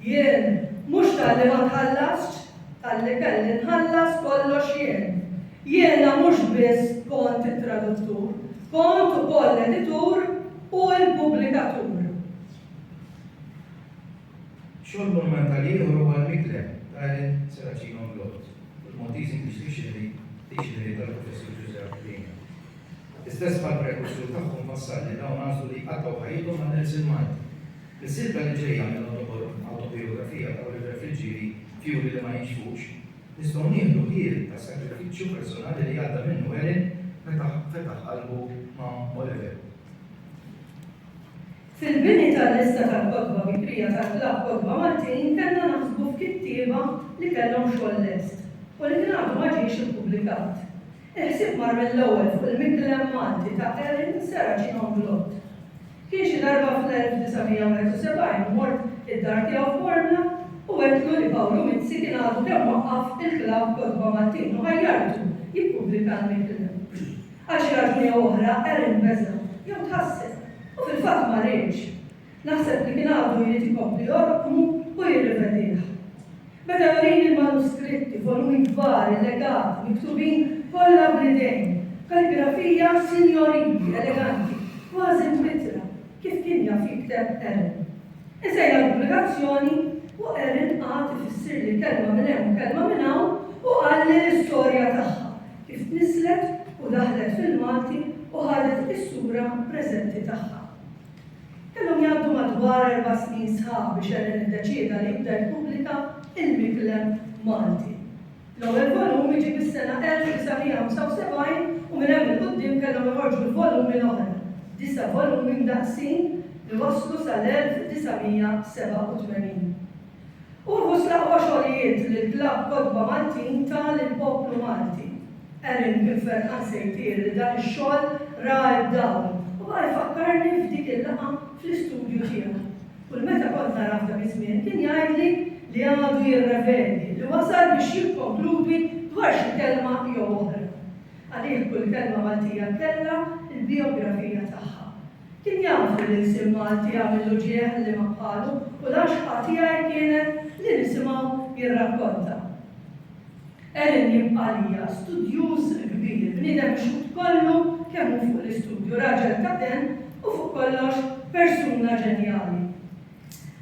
Jien, mhux talli ma tħallasx, talli kelli nħallas kollox jien. Jiena mhux biss kont it-traduttur, kont ukoll l-editur u l-pubblikatur. Xogħol monumentali ieħor huwa l-Miklem ta' Ellen Serracino Mlott, il-Maltese English Dictionary, Diċxinarju tal-Professur Ġużepp Rina. L-istess bħall-prekursur tagħhom fassal li dawn għażlu li jqattgħu ħajjithom għan-Nelson Malti. Fis-silta li ġejja minn Awtobijografija ta' Oliver Friggieri, Fjuri li ma jinxfux, nistgħu nieħdu ħiel tas-sagrifiċċju personali li għadda minnu Ellen meta fetaħ qalbu ma' Oliver. Fil-bini tal-lista tal-kotba bikrija tal-Klabb Kotba Maltin kellna naħsbu f'kittieba li kellhom xogħol lest u li kien għadu ma ġiex ippubblikat. Il-ħsieb mar mill-ewwel fuq il-Miklem Malti ta' Erin Serracino Mblott. Kien xi darba fl-1971 u mort id-dar tiegħu f'Bormla u għedtlu li Pawlu Mizzi kien għadu kemm waqqaf il-Klabb Kotba Maltin u ħajjartu jippubblika l-Miklem. Għal xi raġuni jew oħra, Aaron beża', jew tħasseb, u fil-fatt ma riedx. Naħseb li kien għadu jrid ikompli jorqmu u jirrivedih. Beda jurini l-manuskritti, volumi kbar, illegati, miktubin kollha bl-idejn, b'kalligrafija sinjorili, eleganti, kważi mwittra, kif kien jaf jikteb Aaron. Insejjaħ l-pubblikazzjoni, u Aaron qagħad ifissirli kelma minn hemm u kelma minn hawn u qalli l-istorja tagħha, Kif niżlet u daħlet fil-Malti u ħadet is-sura preżenti tagħha. Kellhom jgħaddu madwar erba' snin sħaħ biex Ellen iddeċieda li jibda jippubblika Il-Miklem Malti. L-ewwel volum iġi fis-sena 1975 u minn hemm 'il quddiem kellhom joħorġu l-volumi l-oħra, disa' volumi mdaqqsin li wasslu sal-1987. Uħud fl-aqwa xogħlijiet li l-Klabb Kotba Maltin ta lill-poplu Malti. Erin kien ferħan se jtir li dan ix-xogħol ra d-dawl u baqa' jfakkarni f'dik il-laqgħa fl-istudju tiegħu. Kull meta kont narah dak iż-żmien kien jgħidli li għadu jirrevedi, li wasal biex jikkonkludi dwar xi kelma jew oħra. Għalih kull kelma Maltija kellha l-bijografija tagħha. Kien jafu li l-isem Malti jagħmillu ġieħ għal liema bħalu u l-għaxqa tiegħi kienet li nisimgħu jirrakkonta. Ellen jibqa' għalija studjuż kbir, bniedem mixħut kollu kemm hu fuq l-istudju, raġel ta' demm u fuq kollox persuna ġenjali.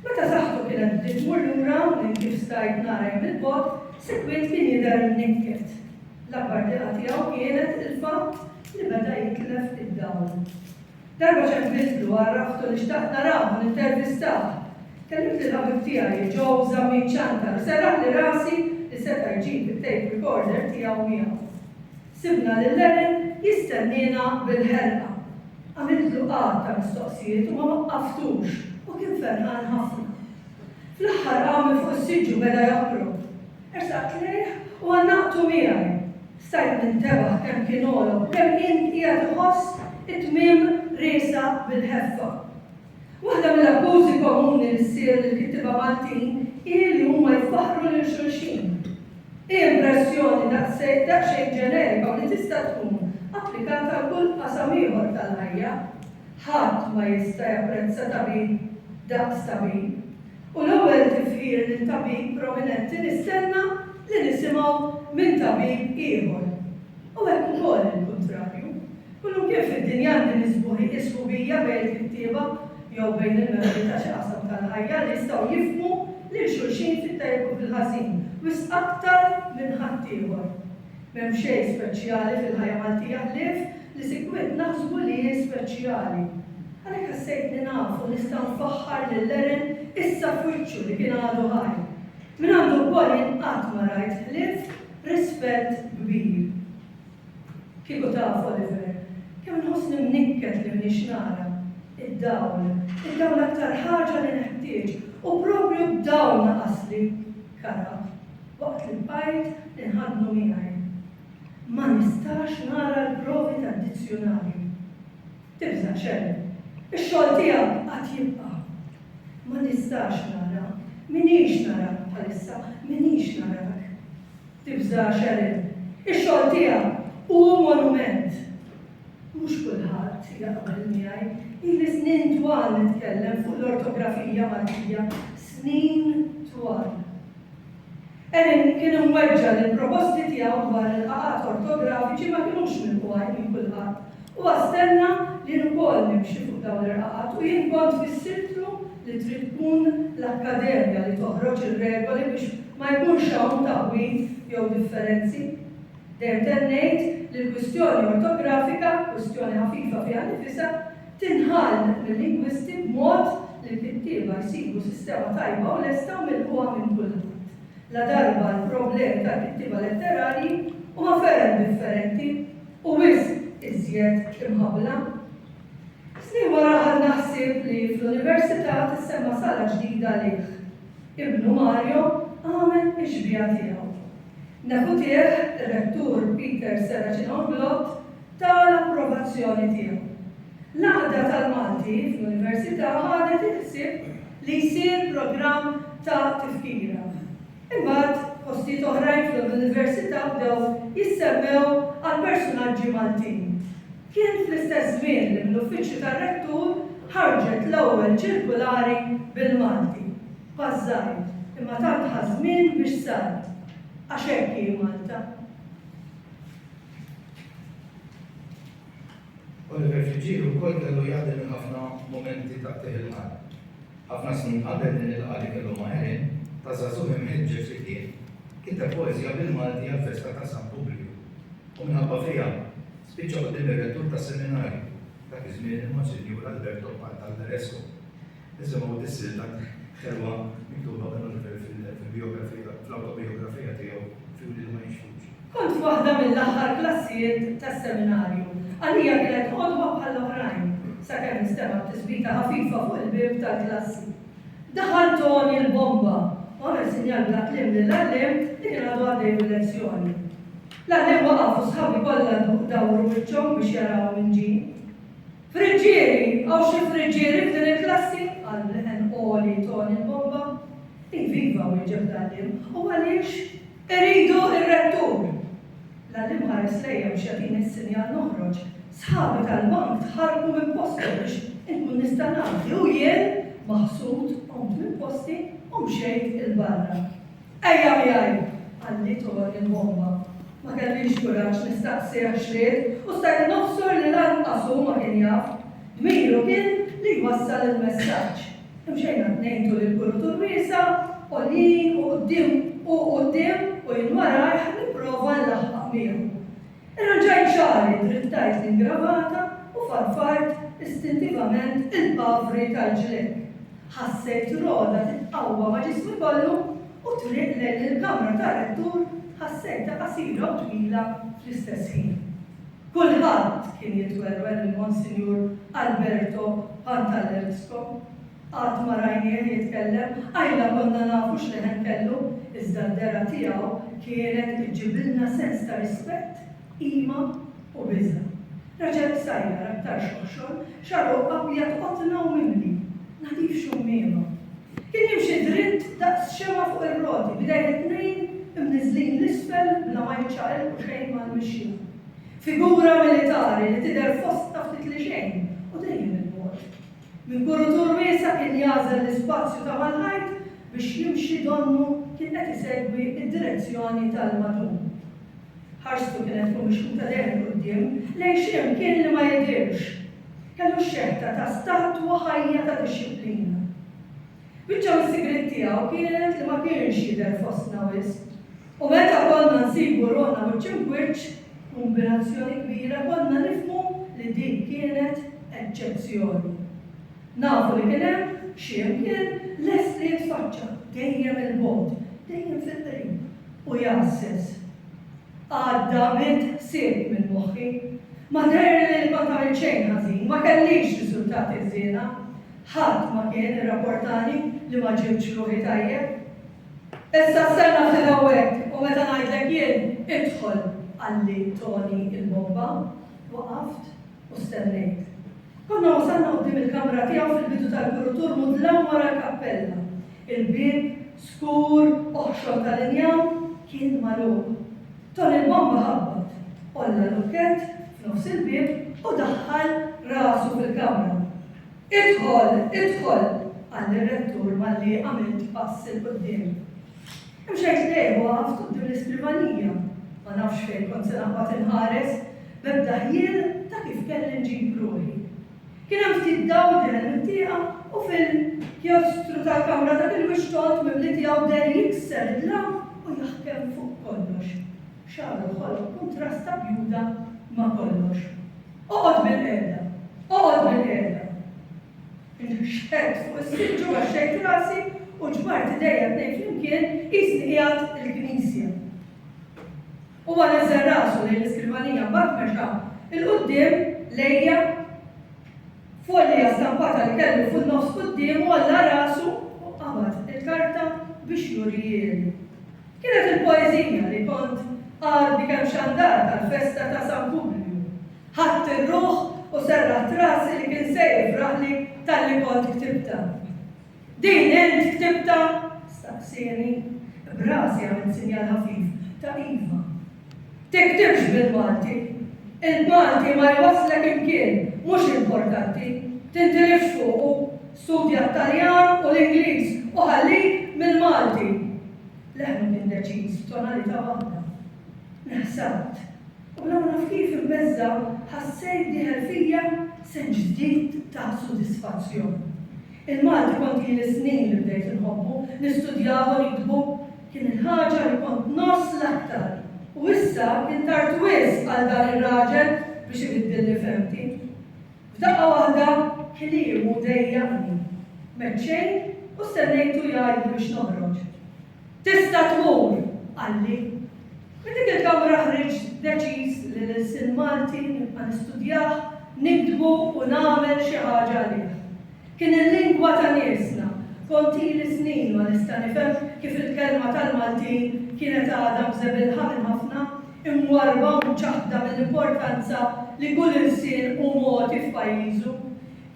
Meta saħħtu kienet bdiet tmur lura minn kif stajt nara jien mill-bogħod, sikwit kien jidher mnikket. L-akbar diqa tiegħu kienet il-fatt li beda jitlef id-dawl. Darba ċempiltlu, għarraftu li xtaqt narah u nintervistah. Kellimt lill-ħabib tiegħi, Joe Zammit Ciantar, u serraħli rasi li seta' jġib it-tape recorder tiegħu miegħu. Sibna lil Aaron jistenniena bil-ħerqa. Għamiltlu għadd ta' mistoqsijiet u ma waqqaftux u kien ferħan ħafna. Fl-aħħar qam minn fuq is-siġġu beda joħrog. Ersaqt lejh u għannaqtu miegħi. Stajt nintebaħ kemm kien għolo u kemm kien qiegħed iħoss it-tmiem riesaq bil-ħeffa. Waħda mill-akkużi komuni li ssir lill-kittieba Maltin hi li huma jfaħħru lil xulxin. Hi impressjoni daqsxejn ġenerika u li tista' tkun applikata għal kull qasam ieħor tal-ħajja. Ħadd ma jista' japprezza tabib daqs tabib. U l-ewwel tifħir lil tabib prominenti nistenna li nisimgħu minn tabib ieħor. U hekk ukoll il-kuntrarju. Kullimkien fid-dinja għandi nisbuħi li s-sħubija bejn il-kittieba jew bejn il-membri ta' xi qasam tal-ħajja li jistgħu jifhmu lil xulxin fit-tajjeb u fil-ħażin wisq aktar minn ħaddieħor. M'hemm xejn speċjali fil-ħajja Maltija ħlief li sikwit naħsbu li hi speċjali. Għalhekk ħassejtni naf u nista' nfaħħar lil Eren issa f'wiċċu li kien għadu ħaj. Mingħandu wkoll jien qatt ma rajt ħlief rispett kbir. Kieku taf, Oliver, kemm nħossni mnikket li m'iniex nara. Id-dawl. Id-dawl l-aktar ħaġa li neħtieġ u proprju d-dawl naqasli. Karab. Waqt li bqajt inħaddnu miegħi, ma nistax nara l-provi tad-dizzjunarju. Tibża' xejn, ix-xogħol tiegħek għad jibqa'. Ma nistax nara, m'iniex narak bħalissa, m'iniex narak. Tibża' xejn, ix-xogħol tiegħek hu monument. Mhux kulħadd jaqbel miegħi, ili snin twal nitkellem fuq l-ortografija Maltija, snin twal. Erin kien imweġġa' li l-proposti tiegħu dwar il-qagħat ortografiċi ma kinux milqugħa minn kulħadd. Huwa stenna li jien ukoll nimxi fuq dawn il-qagħat u jien kont fissirtlu li trid tkun l-akkademja li toħroġ ir-regoli biex ma jkunx hawn taħwid jew differenzi. Dejjem ntemm ngħid li l-kwistjoni ortografika, kwistjoni ħafifa fiha nnifisha, tinħall mil-lingwisti b'mod li l-kittieba jsibu sistema tajba u lesta u milqugħa minn kulħadd. Ladarba l-problemi tal-kittieba letterarji huma ferm differenti u wisq iżjed imħabbla. Snin wara ħadna ħsieb li fl-Università tissemma sala ġdida lih. Ibnu Mario għamel ix-xbieha tiegħu. Nehutiegħ ir-Rettur Peter Serracin Orglott ta l-approvazzjoni tiegħu. L-Għaqda tal-Malti fl-Università ħadet il-ħsieb li jsir programm ta' tifkira. Imbagħad postijiet oħrajn fl-Università bdew jissemmew għal persunaġġi Maltin. Kien fl-istess żmien li mill-Uffiċċju tar-Rettur ħarġet l-ewwel ċirkulari bil-Malti. Pass żgħir, imma tant ħa żmien biex sar. Għax hekk hi Malta. Oliver Fiġġielu wkoll kellu jgħaddi minn ħafna mumenti ta' qtigħ il-qalb. Ħafna snin qabel din il-laqgħa li kellu ma' Erin, ta' żagħżugħ imħeġġeġ li kien, kiteb poeżija bil-Malti għall-festa ta' San Publju. U minħabba fiha, Spiċċa quddiem ir-Rettur tas-Seminarju, dak iż-żmien il-Monsinjur Alberto Pantalleresco, nisimgħu dis-silta ħelwa miktuba minn Oliver fil-bijografija, fl-awtobijografija tiegħu F'Juliet Ma Jinxfux. Kont f'waħda mill-aħħar klassijiet tas-Seminarju. Għalija kienet għodwa bħall-oħrajn, sakemm instemgħet tisbita ħafifa fuq il-bieb tal-klassi. Daħal Toni l-Bomba u għamel sinjal bla kliem lill-għalliem li kien għadu għaddej bil-lezzjoni. L-aħjar waqaf u sħabi kollha dawru wiċċhom biex jaraw min ġie. Friggieri, hawn xi friggieri f'din il-klassi? qal b'leħen għoli Toni l-Bomba. Iviva! wieġeb l-għalliem. U għaliex? Iridu r-Rettur! L-għalliem ħares lejja biex jagħtini s-sinjal noħroġ. Sħabi tal-bank tħarrku minn posthom biex inkun nista' ngħaddi u jien, maħsud, qomt minn posti u mxejt 'il barra. Ejja miegħi! qalli Tony mħomma. Ma kellix kuraġġ nistaqsih x'ried u stajt nobsor li lanqas hu ma kien jaf. Dmiru kien li jwassal il-messaġġ. Imxejna t-tnejn tul il-kurutur wiesa', għoljin u quddiem hu quddiem u jien warajh nipprova nlaħħaq miegħu. Irranġajt xagħri, drittajt l-ingravata u farfart istintivament il-pavri tal-ġlekk. Ħassejt rogħda titqawwa ma' ġismi kollu u t-triq lejn il-kamra tar-rettur ħassejtha qasira u twila fl-istess ħin. Kulħadd kien jitwerwer lil Monsinjur Alberto Pantallerzco Qatt ma rajnieh jitkellem, qajla konna nafu x'leħen kellu, iżda d-dehra tiegħu kienet iġġibilna sens ta' rispett, qima u biża'. Raġel qsajjar, aktar xoħxon, xagħru abjad qotna u mimli, nadif xummiema. Kien jimxi dritt daqs xemgħa fuq ir-roti, b'idejh it-tnejn imniżżlin 'l isfel bla ma jiċċaqilqu xejn mal-mixja. Figura militari li tidher fostna ftit li xejn u dejjem 'il bogħod. Minn kurutur wiesa' kien jagħżel l-ispazju ta' mal-ħajt biex jimxi donnu kien qed isegwi d-direzzjoni tal-madum. Ħarstu kienet tkun mixħuta dejjem 'il quddiem lejn xi mkien li ma jidhirx. Kellu x-xeħta ta' statwa ħajja ta' dixxiplina. Biċċa mis-sigriet tiegħu kienet li ma kienx jidher fostna wisq u meta konna nsibu ruħna wiċċ im'wiċċ b'kumbinazzjoni kbira konna nifhmu li din kienet eċċezzjoni. Nafu li kien hemm xi imkien lest li jitfaċċa, dejjem il-bogħod, dejjem fil-qrib, u jgħasses. Għadda mitt ħsieb minn moħħi. Ma deherli li kont għamilt xejn ħażin, ma kellix riżultati ħżiena. Ħadd ma kien irrapportani li ma ġibtx ruħi tajjeb. Issa stenna ftit hawnhekk u meta ngħidlek jien, idħol, qalli Toni il-Bomba. Waqaft u stennejt. Konna wasalna quddiem il-kamra tiegħu fil-bidu tal-kurutur mudlam wara l-kappella. Il-bieb, skur, oħxon tal-injam, kien magħluq. Toni il-Bomba ħabbat, għolla lukkett f'nofs il-bieb u daħħal rasu fil-kamra. Idħol, idħol! qal ir-Rettur malli għamilt pass 'il quddiem. Hemm xejn tnejn u waqaft quddiem l-iskrivanija. Ma nafx fejn kont se naqbad inħares, b'ebda ħjiel ta' kif kelli nġib ruħi. Kien hemm ftit dawl din hemm it-tieqa u fil-kjostru tal-kamra dak il-wixx tondt mimli tiegħu deher jikser id-dlam u jaħkem fuq kollox. Xagħar uħud tkun trasta bjuda ma' kollox. Oqgħod bilqiegħda, oqgħod bilqiegħda! Inħxħedt fuq is-siġġu, għaxxejt rasi u ġbart idejja tnejn flimkien qisni qiegħed il-knisja. Huwa neżżel rasu lejn l-iskrivanija mbagħad mexa 'l quddiem lejja. Folja stampata li kellu fin-nofs quddiemu għalla rasu u qabad il-karta biex jurihieli. Kienet il-poeżija li kont qagħad bi kemm xandar tal-festa ta' San Publiju. Ħadt ir-ruħ u serraħt rasi li kien se jifraħli talli kont ktibtha. Din int ktibtha? staqsieni, b'rasi għamilt sinjal ħafif ta' iva. Tiktibx bil-Malti. Il-Malti ma jwasslek imkien mhux importanti. Tintilifx fuqu. Studja t-Taljan u l-Ingliż u ħallik mill-Malti. Leħnu kien deċiż f'tonalità waħda. Neħsabt. U bla ma naf kif imbeżża' ħassejt dieħel fija senġ ġdid ta' sodisfazzjon. Il-Malti kont ili snin li bdejt inħobbu, nistudjah u niktbu. Kien il-ħaġa li kont ngħożż l-aktar. U issa kien tard wisq għal dan ir-raġel biex ibiddilli fehmti. F'daqqa waħda kliemu dejjaqni. M'għedt xejn u stennejtu jgħidli biex noħroġ. Tista' tmur, qalli. Minn dik il-kamra ħriġt deċiż li l-ilsien Malti nibqa' nistudjah, niktbu u nagħmel xi ħaġa għalih. Kien il-lingwa ta' niesna, kont ili snin ma nista' nifhem kif il-kelma tal-Maltin kienet għadha mżebilħa minn ħafna, imwarrba u mċaħħda mill-importanza li kull ilsien hu mogħti f'pajjiżu.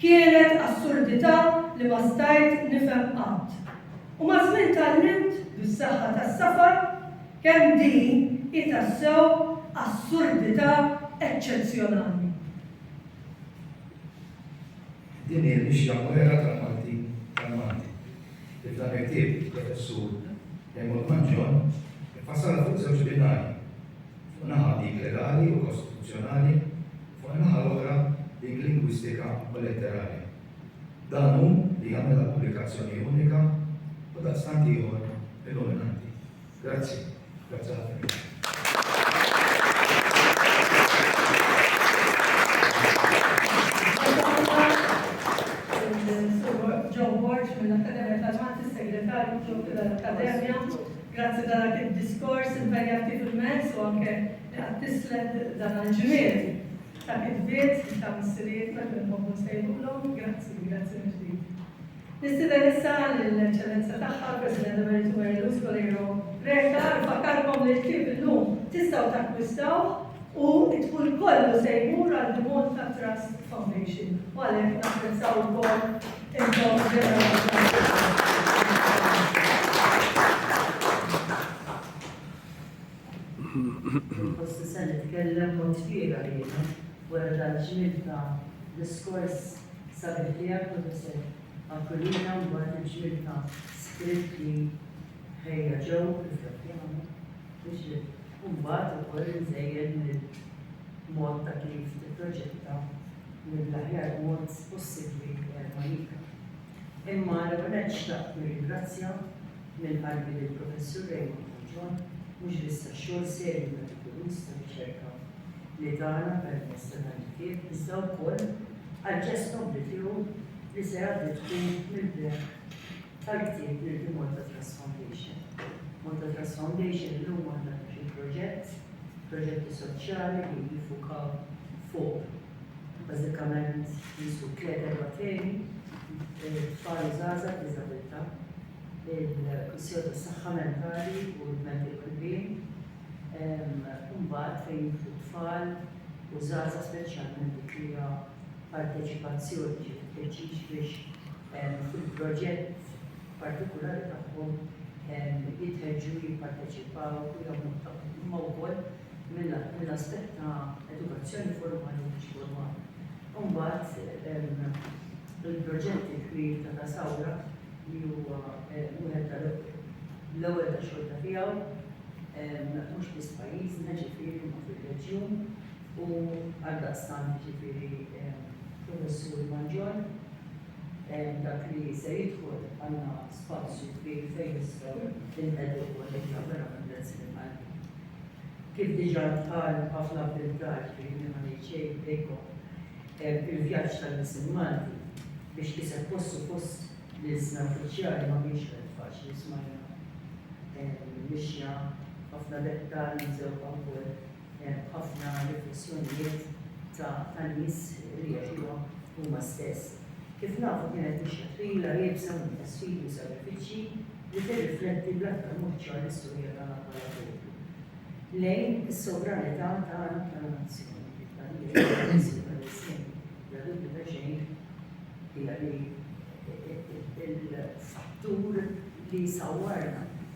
Kienet assurdità li ma stajt nifhem qatt. U maż-żmien tgħallimt, bis-saħħa tas-safar, kemm din hi tassew assurdità eċċezzjonali. Din hi l-mixja mwegħra tal-Malti tal-Malti, li f'dan il-ktieb il-Professur Raymond Mangion iffassalha fuq żewġ binarji. fuq naħa dik legali u kostituzzjonali, fuq in-naħa l-oħra dik lingwistika u letterali. Dan hu li jagħmilha pubblikazzjoni unika u daqstant ieħor illuminanti. Grazzi. Grazzi ħafna. Grazzi ta' dak id-diskors impenjat kif immess u anke li qgħadt tisled dan għall-ġmiel ta' kitbiet ta' missirijietna kif inħobbu nsejħulhom. Grazzi, grazzi mill-ġdid. Nistieden issa lill-Eċċellenza Tagħha l-President Emeritu Mary Louise Coleiro Preca nfakkarkom li l-ktieb illum tistgħu takkwistawh u d-dħul kollu se jmur għall-Dimond Tat Trust Foundation u għalhekk napprezzaw ukoll Forsi se nitkellem b'mod fiergħa jiena wara dal-ġmiel ta' diskors sabiħ tiegħek, Professur Aquilina, u wara l-ġmiel ta' script li ħejja Joe, iżda kien hawn biex imbagħad ukoll inżejjed mill-. mod ta' kif tipproġetta mill-aħjar mod possibbli Malika. Imma l-ewwel nett xtaqt nirringrazzja minn qalbi lill-Professur Raymond Falzon mhux biss għax-xogħol serju metikuluż ta' riċerka li tana permezz ta' dan il-ktieb iżda wkoll għall-ġest nobbli tiegħu li se jgħaddi tkun mill-beraħ Grazzi lil Malta Trust Foundation. Malta Trust Foundation illum għandha tmexxi proġett, proġetti soċjali li jiffukaw fuq bażikament qisu tliet erba' temi, it-tfal u żgħażagħ b'diżabilità, il-kwistjoni tas-saħħa mentali u l-mental wellbeing, u mbagħad fejn jidħlu t-tfal u żgħażagħ speċjalment dik li hija parteċipazzjoni, ġifieri t-tħeġġiġ biex, fil-proġett partikulari tagħhom jitħeġġu jipparteċipaw u jagħmlu tagħhom imma wkoll mill-aspett ta' edukazzjoni formali u mhux formali. U mbagħad il-proġett il-kbir ta' Da Sawra li huwa wieħed tal-ewwel ta' xorta tiegħu mhux biss pajjiżna ġifieri imma fir-reġjun u għaldaqstant ġifieri Professur Mangion dak li se jidħol għandna spazju kbir fejn nistgħu nqegħdu politika verament lezzjoni tajba. Kif diġà ntqal ħafna b'intar, jiġifieri ma ngħid xejn bejnkom, il-vjaġġ tal-Missier Malti biex kiseb postu fost l-ilsna uffiċjali ma kienx wieħed faċli, smajna mixja, ħafna dettalji msewwqa wkoll. ħafna riflessjonijiet ta' nies li jagħxuhom huma stess. Kif nafu kienet mixja twila iebsa minn ta' sfidi u sagrifiċċji li tirrifletti bl-aktar mod ċar l-istorja tagħna bħala poplu. Lejn is-sovranità tagħna bħala nazzjon, bla dubju ta' xejn hija li l-fattur li sawwarna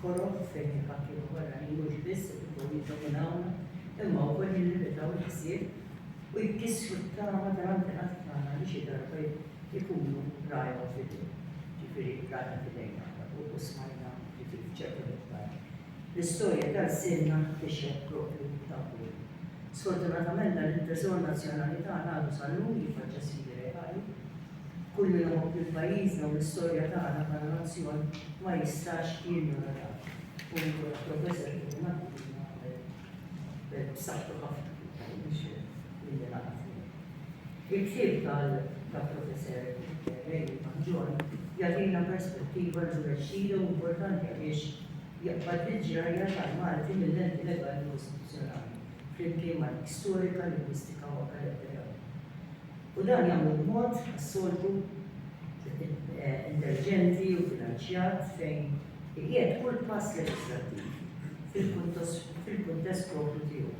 Koroh f'etika kif wera li mhux biss ipruvaw jiddominawna imma wkoll jillimitaw il-ħsieb u jkissru t-tama tal-antenati tagħna li xi darba jkunu rajhom f'idejn, ġifieri rajna f'idejn aħna fuq u smajna ġifieri f'ċertu miqdar. L-istorja ta' lsienna tixhed proprju dan kollu. Sfortunatament dan it-treżor nazzjonali tagħna għadu sal-lum jiffaċċja sfidi reali. Kull min iħobb lil pajjiżna u l-istorja tagħna bħala nazzjon ma jistax jinjora dan. U nieħu l-approva eżempju minn dak li ilna qabel b'saħħtu ħafna fil-Prim Ministru li jiena naf miegħu. Il-ktieb tal-Professer Rayleigh Mangion jagħtina perspettiva rġulexxija u importanti għaliex jaqbad l-ġrajja tal-Malti mil-lenti legali u istituzzjonali, flimkien ma' dik storika, lingwistika u akademika tagħna. U dan jagħmlu b'mod, għas-soltu, intelliġenti u bilanċjat fejn iqiegħed kull pass leġislattiv fil-kuntest proprju tiegħu,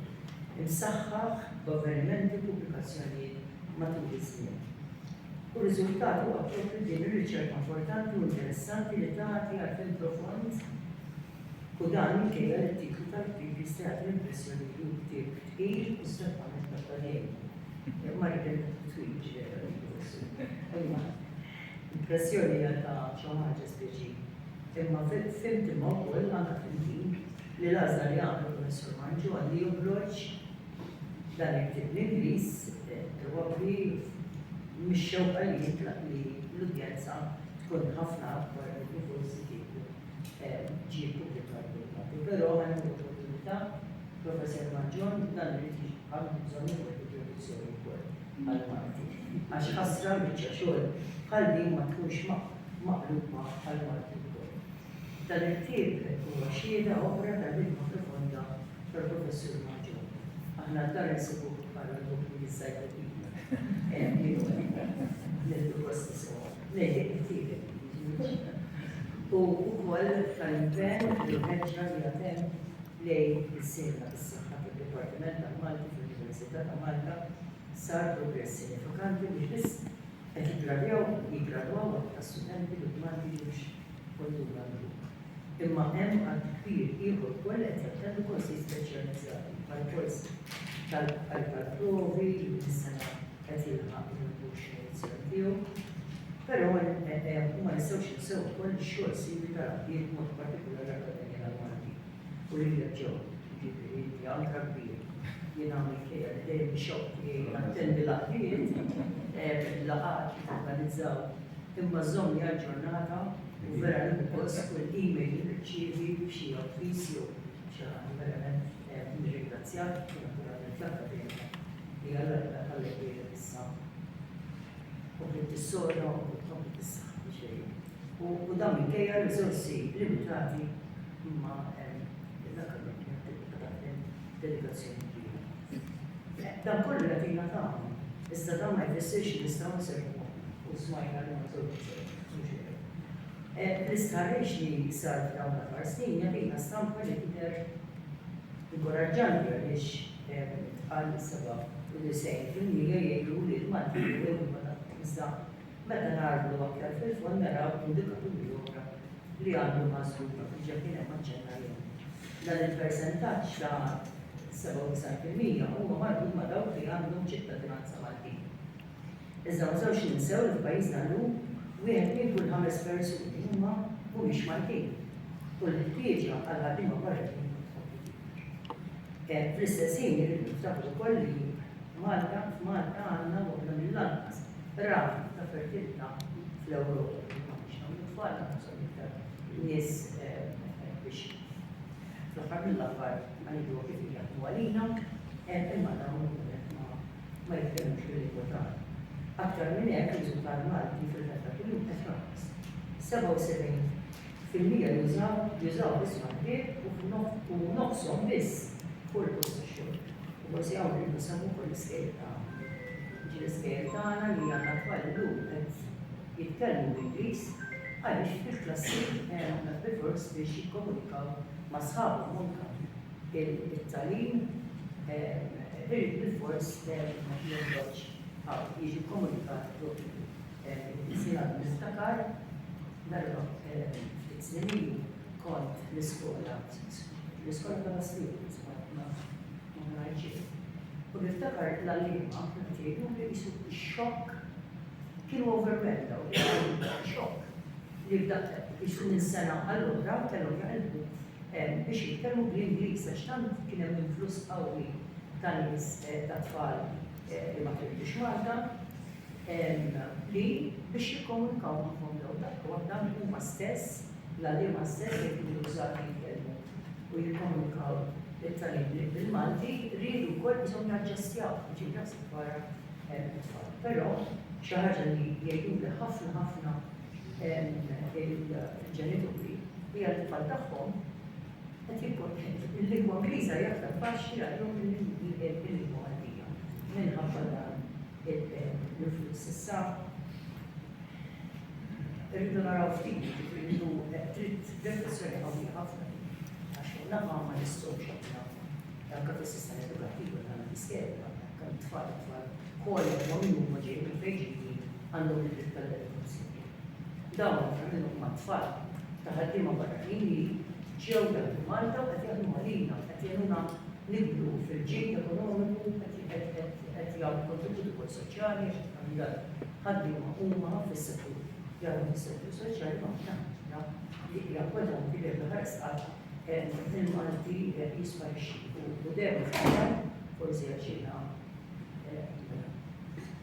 imsaħħaħ b'avvenimenti u pubblikazzjonijiet matul iż-żmien. U r-riżultat huwa proprju din ir-riċerka importanti u interessanti li tagħti għarfien profond u dan minkejja li t-titlu tal-ktieb jista' jagħti l-impressjoni li hu ktieb tqil u strettament akademiku. Impressjoni hija ta' xi ħaġa speċi. Imma fimt imma wkoll anke fil din li l-għażla li għamel Professur Manġu għal li joħroġ dan il-ktieb bl-Ingliż probabbli mix-xewqa li jitlaq li l-udjenza tkun ħafna akbar minn kif forsi kieku ġie ppubblikat bil-Malti. Però għal din l-opportunità, Professur Manġon, dan irid jiġi Għandi bżonn nieħu kontribuzzjoni wkoll għal marti għax ħasra l-biċċa xogħol bħal din ma tkunx maqluba għal marti wkoll. Dan il-ktieb huwa xhieda oħra tal-ħidma profonda tal-Professur Maġġor. Aħna d-dar insibuh bħala l-bukli l-sajkopidja. Hemm kienu hemm. Nildu kosti sewa. Lejli ktiebek. U wkoll tal-impenn li ħeġġa li għatem lejn is-sejħa bis-saħħa tad-Dipartiment tal-Malti fl-Università ta' Malta sar progress sinifikanti mhux biss qed jiggradjaw jiggradwaw aktar studenti li b'Malti mhux kultura l-grupp, imma hemm għadd kbir ieħor ukoll li qed jattendu korsijiet speċjalizzati bħall-kors tal-provi li din is-sena qed jilħaq il-20 edizzjoni tiegħu. Però ma nistgħux ninsew ukoll ix-xogħol siwi tal-għaqdiet b'mod partikolari l-Akkademja tal-Malti. Gburija Joe, jiġifieri inti anka kbir. Jien għamilt ħejja li dejjem ixoqqni nattendi l-aħbiet, il-laqgħat li torganizzaw, imma żommni aġġornata u vera nieħu gost kull email li nirċievi b'xi avviż jew xi ħaġa verament nirringrazzjak u naturalment l-Akkademja li għal darba tgħallem lilek issa. Kompli tissoda u tkompli tissaħħa. u dan minkejja r-riżorsi limitati imma l-Akkademja tibqa' taħdem b'dedikazzjoni kbira. Dan kollu jagħtina tagħna, iżda dan ma jfissirx li nistgħu nserħu moħħna u smajna li ma żewġ L-istħarriġ li sar f'dawn l-aħħar snin jagħtina stampa li tidher inkoraġġanti għaliex tqal 97% jgħidu li l-Maltin huwa l-lingwa tagħhom iżda Meta nagħrfu aktar fil-fond naraw indikaturi oħra li għandhom ħasrhom dak li diġà kien hemm aċċenna lejhom. Dan il-persentaġġ ta' 97 fil-mija huma marbut ma' dawk li għandhom ċittadinanza Maltin. Iżda ma nistgħux ninsew li f'pajjiżna llum wieħed minn kull ħames persuni huma mhumiex Maltin u l-ħtieġa għal ħaddiema barranin Fl-istess ħin irridu niftakru wkoll li Malta f'Malta għandna waħda mill-anqas rata ta' fertilità fl-Ewropa li ma biex nagħmlu tfal naħseb iktar nies biex fl-aħħar mill-aħħar għajdu kif jaħdmu għalina, imma dawn ma jitkellmux bil-lingwa tagħna. Aktar minn hekk riżultat Malti fil-meta kuljum qed jonqos. 77 Fil-Lier jużaw jużaw biss waħdiet u f'nof u nofshom biss kull post tax-xogħol. U forsi hawn irridu nsemmu wkoll l-iskejjel ta' għada. Jiġri l-iskejjel tagħna li għandna t-tfal illum qed jitkellmu bl-Ingliż għaliex fil-klassi hemm b'ifors biex jikkomunikaw ma' sħabhom u anke it-tagħlim irid bilfors jonqos hawn jiġi kkomunikat bl-Ingliż. Jiena niftakar Merħba, ftit snin ilu kont l-iskola, l-iskola ta' Lastiku, sbajt ma' Mrajġiet. U niftakar l-għalliema kienu ġejjin li jisu xokk kienu overwhelmed daw li għalliema xokk li f'daqqa jisu minn sena għall-oħra kellhom jaqilbu biex jitkellmu bl-Ingliż għax tant kien hemm influss qawwi ta' nies ta' tfal li ma kellux Malta. li biex jikkomunikaw magħhom dawn dak li waħda huma stess, l-għalliema stess li jkunu bżonn jitkellmu u jikkomunikaw lit-tagħlim bil-Malti riedu wkoll bżonn jaġġestjaw, jiġifieri naħseb dwar it-tfal. Però xi ħaġa li jgħiduli ħafna ħafna il-ġenituri hija li tfal tagħhom qed jibqgħu il-lingwa Ingliża hija aktar faċli għalihom mill-lingwa Maltija minħabba dan il-flus issa. Irridu naraw ftit, irridu trid riflessjoni qawwija ħafna. Għax naqa' ma nistgħux aħna anke fis-sistema edukattiva tagħna l-iskema, kemm tfal tfal kollha ma' min huma ġej minn fejn ġejjin għandhom id-dritt tal-edukazzjoni. Dawn flimkien mat-tfal ta' ħaddiema barranin li ġew jaħdmu Malta u qed jaħdmu għalina, qed jgħinuna nikbru fil-ġid ekonomiku, qed jagħmlu kontribut ukoll soċjali għax ħafna dal-ħaddiema huma fis-settur jaħdmu fis-settur soċjali ma aħna ħaġa li hija importanti li aħna ħares qatt il-Malti jisparixxi u dejjem forsi għax jiena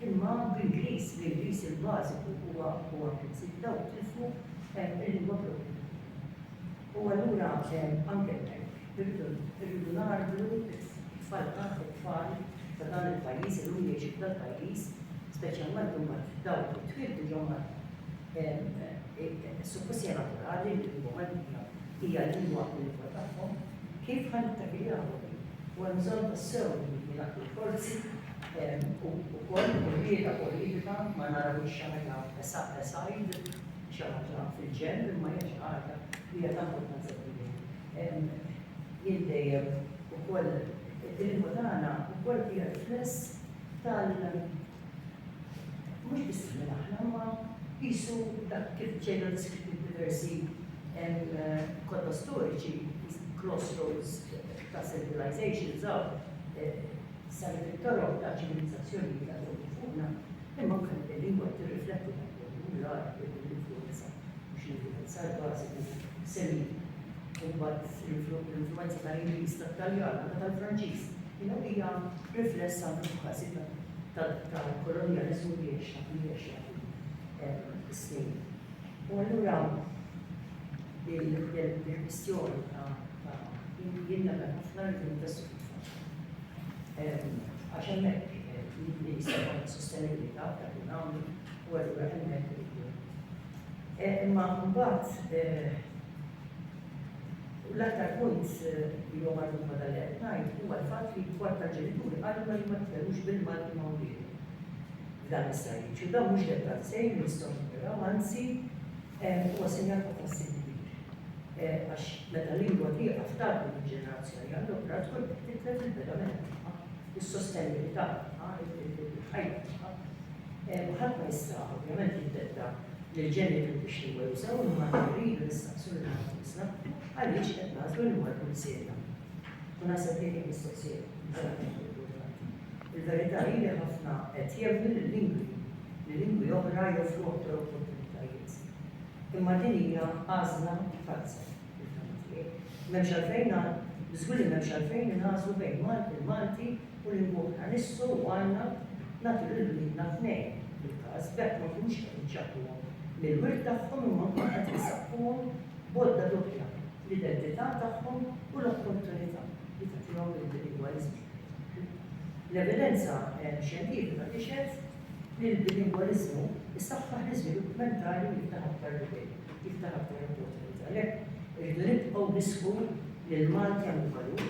Imma bl-Ingliż li l-vis il-bażiku huwa huwa l-prinċip, dawk tilfu l-lingwa proprja tagħhom. U allura anke hemmhekk irridu irridu ngħarblu t-tfal tagħna, it-tfal ta' dan il-pajjiż illum li jgħixu f'dal-pajjiż, speċjalment imbagħad dawk li twieldu ġo Malta. Suppost hija naturali li l-lingwa Maltija hija l-lingwa l-lingwa tagħhom. Kif ħa nittakiljawha din? U hemm bżonn tassew li jingħaqdu l-forzi. u wkoll tkun qiegħda politika ma narawhiex xi ħaġa aside, xi ħaġa fil-ġenb, imma hija xi ħaġa li hija ta' importanza kbira. Jien dejjem ukoll il-lingwa tagħna wkoll hija rifless tal mhux biss minn aħna imma qisu dak kif ġejna deskritti f'diversi kotba storiċi, crossroads ta' civilizations, saret it-toroq ta' ċivilizzazzjonijiet ta' fuq u fuqna, imma anke din il-lingwa qed tirrifletti dan kollu, u l-Għarab jieħdu l-influwenza, mhux l-influwenza, l-bażiku, Semit, u mbagħad l-influwenza tal-Ingliż, tat-Taljan, anke tal-Franċiż, you know, hija rifless anke f'każi ta' tal-kolonjaliżmu li għexna, li għexna fis-snin. U allura il-kwistjoni ta' jien nagħmel ħafna rridu nfessu fit-tfal. Għax hemmhekk jista' jkun sostenibilità dak li nagħmlu u allura hemmhekk iridu. Imma mbagħad l-aktar punt li huwa marbut ma' dan li qed ngħid huwa l-fatt li kwart tal-ġenituri qalu ma jitkellmux bil-Malti ma' wliedhom. Dan is-sajjiċ u dan mhux dettal sejn nistgħu naraw anzi Huwa sinjal ta' tħassib kbir għax meta l-lingwa tieqaf tgħaddi minn ġenerazzjoni għal oħra tkun qed titlef il-pedament tagħha, is-sostenibilità tagħha, il-ħajja tagħha. U ħadd ma jista' ovvjament jiddetta lill-ġenituri x'lingwa jużaw imma rridu nistaqsu lil nfusna għaliex qed nagħżlu li mmorru missielna. U naħseb li hija mistoqsija. Il-verità hi li ħafna qed jemmnu li l-lingwi li lingwi oħra joffru aktar opportunitajiet. Imma din hija għażla falza, fil-fehma tiegħi. M'hemmx għalfejn żgur li m'hemmx għalfejn inagħżlu bejn Malti, il-Malti u lingwa oħra. Nissu u għandna nagħtu lil uliedna tnejn bil-każ b'hekk ma nkunux qed nċappluhom mill-wirt tagħhom imma nkunu qed insaqquhom bodda doppja l-identità tagħhom u l-opportunità li tagħtihom il-lingwaliżmu. L-evidenza eh, xjentifika tixhed Il-bilingwaliżmu jsaħħaħ l-iżvilupp mentali u jiftaħ aktar bibien, jiftaħ aktar opportunitajiet. Għalhekk, irridu nibqgħu nisħu li l-Malti għandu valur,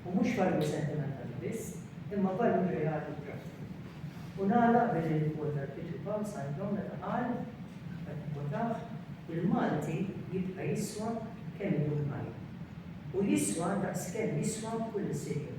u mhux valur sentimentali biss, imma valur reali u prattiku. U nagħlaq billi nikkwota lil Pietru Pawl Sandon meta qal, qed nikkwotah, Il-Malti jibqa' jiswa kemm idum ħaj. U jiswa daqskemm jiswa kull insiegħ jum.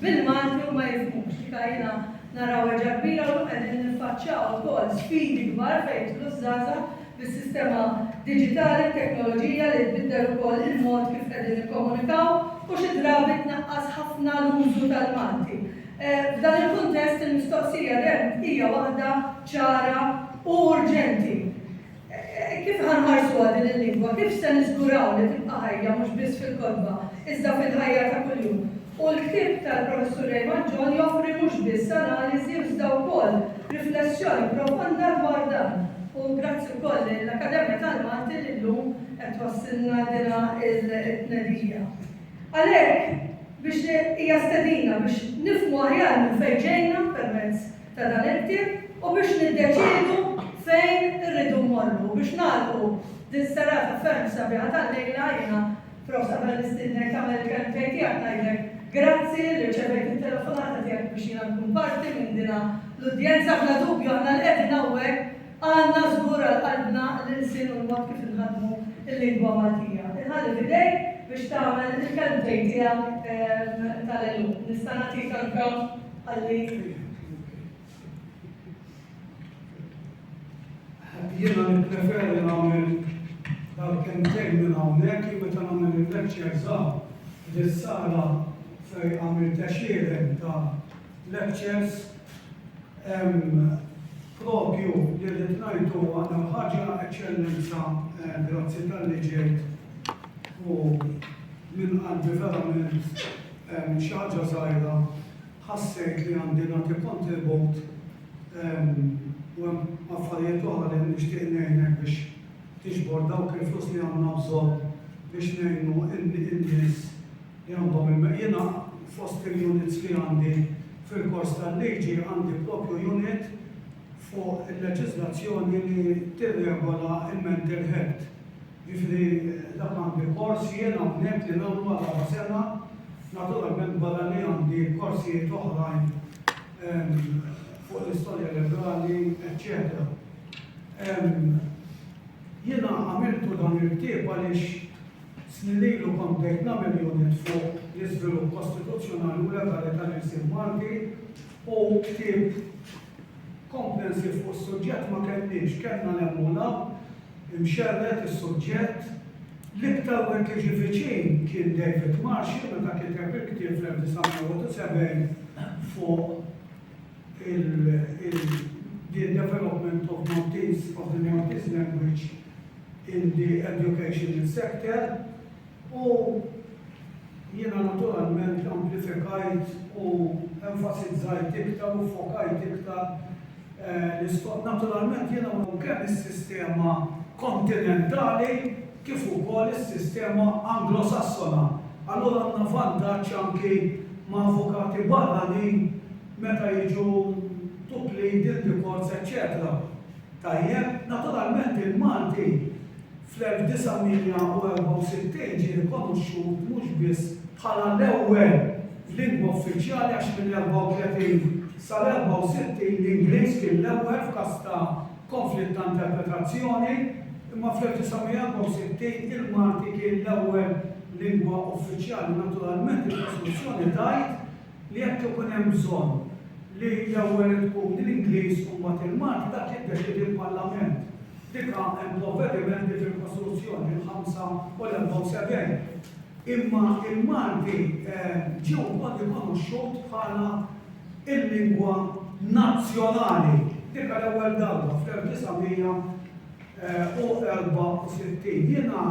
bil-Malti u ma jifhmux li kajjina naraw erġa' kbira u llum qegħdin niffaċċjaw ukoll sfidi kbar fejn jidħlu ż-żgħażagħ bis-sistema diġitali, t-teknoloġija li tbiddel ukoll il-mod kif qegħdin nikkomunikaw u xi drabi tnaqqas ħafna l-użu tal-Malti. F'dan il-kuntest il-mistoqsija hija waħda ċara u urġenti. Kif ħa nħarsuha din il-lingwa? Kif se niżguraw li tibqa' ħajja mhux biss fil-kotba, iżda fil-ħajja ta' kuljum? U l-ktieb tal-Professur Raymond John joffri mhux biss analiżi iżda wkoll riflessjoni profonda dwar dan. U grazzi wkoll lill-Akkademja tal-Malti li llum qed twassilna dina t-tnedija. Għalhekk, biex hija stedina biex nifhmu aħjar minn fejn ġejna permezz ta' dan il-ktieb u biex niddeċiedu fejn irridu mmorru. Biex nagħlqu din serata ferm sabiħa tal-lejla jiena, Prof. qabel nistiednek tagħmel il-kelmtejn tiegħek ngħidlek grazzi li rċevejt it-telefonata tiegħek biex jiena nkun parti minn din l-udjenza. Bla dubju aħna li qegħdin hawnhekk għandna żgur għal qalbna l-ilsien u l-mod kif inħaddmu l-lingwa Maltija. Inħalli f'idejk biex tagħmel il-kelmtejn tiegħek tal-għeluq. Nista' nagħtik anke Għalhekk jiena nippreferi nagħmel dal kentejn minn hawnhekk li meta nagħmel il-lecture żgħar fis-sala fejn għamil texieren ta' lectures propju li rrid ngħidu għandha ħaġa eċċellenza eh, grazzi tal-li ġejt u minn qalbi verament Għamilt xi ħaġa żgħira, ħassejt li għandi nagħti kontribut u hemm affarijiet oħra li nixtieq ngħinek biex tiġbor dawk il-flus li għandna bżonn biex ngħinu n-nies li għandhom il-. Jiena fost il-units li għandi fil-kors tal-liġi għandi proprju unit fuq il-leġiżlazzjoni li tirregola l-mental health. Jiġifieri dak għandi kors jien hawnhekk li nagħmlu għal raba' sena, naturalment barra li għandi korsijiet oħrajn fuq l-istorja legali eċċetera. Jiena għamiltu dan il-ktieb għaliex snin ilu kont bdejt nagħmel unit fuq l-iżvilupp kostituzzjonali u legali tal-ilsien Malti u ktieb, Komprensiv fuq is-suġġett ma kellniex, kellna l-Emmula, imxerred is-suġġett. L-iktar wieħed li ġie viċin kien David Marshall meta kiteb il-ktieb fl-1971 fuq il-The Development of Maltese, of the Maltese Language in the Educational Sector. U jiena naturalment amplifikajt u enfasizzajt iktar u ffokajt iktar l-isforz. Naturalment jiena u kemm is-sistema kontinentali kif ukoll is-sistema Anglosassona. Allura għandna vantaġġ anki ma' avukati barranin meta jiġu to plead in the courts eċċetera. Tajjeb, naturalment il-Malti, Fl-1964 ġie rikonoxxut mhux biss bħala l-ewwel lingwa uffiċjali għax mill-34 sal-64 l-Ingliż kien l-ewwel f'każ ta' konflitt ta' interpretazzjoni, imma fl-1964 il-Malti kien l-ewwel lingwa uffiċjali. Naturalment, il-Kostituzzjoni tgħid li jekk ikun hemm bżonn li l-ewwel tkun l-Ingliż u mbagħad il-Malti, dak jiddeċiedi l-Parlament. Diqa hemm provvedimenti fil-Kostituzzjoni, il-ħamsa u l-74. Imma il-Malti ġie wkoll rikonoxxut bħala l-lingwa nazzjonali. Diqa l-ewwel darba fl-1964. Jiena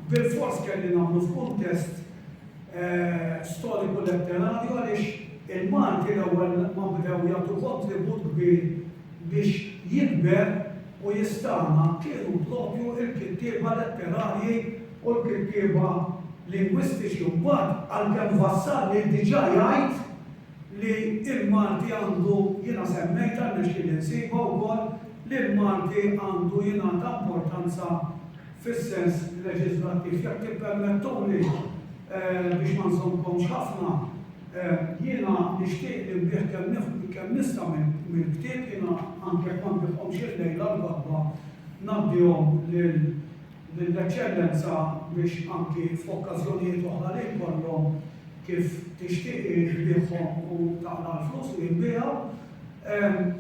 bilfors kelli nagħmlu f'kuntest storiku letterarju għaliex il-Malti l-ewwel ma bdew jagħtu kontribut kbir biex jikber u jistagħna kienu proprju l-kittieba letterarji u l-kittieba lingwistiċi u mbagħad għalkemm wassalni diġà jgħid li l-Malti għandu, jiena semmejtha rnexxieli nsibha wkoll, li l-Malti għandu jingħata importanza fis-sens leġiżlattiv, jekk tippermettuli, biex ma nżommkomx ħafna, jiena nixtieq li nbigħ kemm nista' mill-ktieb, jiena anke jekk ma nbiħhomx illejla l-għodwa ngħaddihom lill-Eċċellenza biex anki f'okkażjonijiet oħra li jkollhom kif tixtieq hi tbiħhom u taqla' l-flus li jinbiegħu.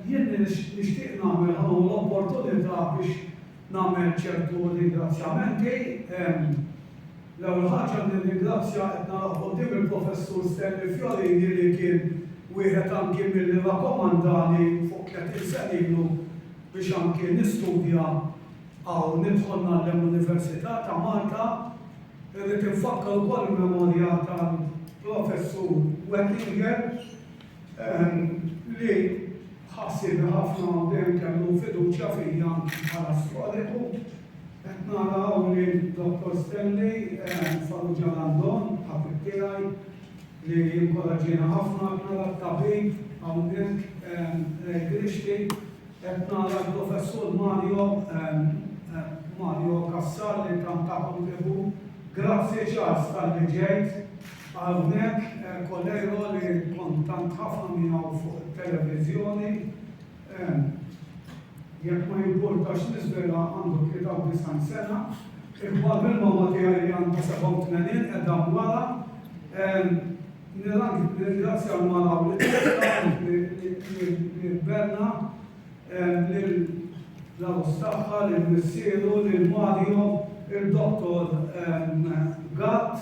Jien nixtieq nagħmel, ħa nieħu l-opportunità biex Nagħmel ċertu ringrazzjamenti. L-ewwel ħaġa nirringrazzja qed naraħ quddiem il-Professur Stanley Fiorini li kien wieħed anki milli rakkomandani fuq tletin sena ilu biex anki nistudja hawn nidħol ngħallem l-Università ta' Malta. Irrid infakkar ukoll il-memorja tal-Professur Wettinger. li ħassieb ħafna u dejjem kellu fiduċja fija bħala storiku. Qed nara hawn li Dottor Stanley Farrugia Landon, ħabib tiegħi, li jinkoraġġiena ħafna, qed nara t-tabib hawnhekk Ray Grixti, qed nara l-Professur Mario Mario Cassar li tant ta' kontribut. Grazzi Charles tal-li ġejt. Hawnhekk Coleiro li kont tant ħafna miegħu fuq it-televiżjoni, jekk ma jimpurtax niżvilha, għandu 93 sena, ikbar mill-mamma tiegħi li għandha 87 qiegħda wara. Nirringrazzja l-mara u lit-tifla, lil Berna, lill-għarus tagħha, lil missieru, lil Mario, il-Dottor Gatt,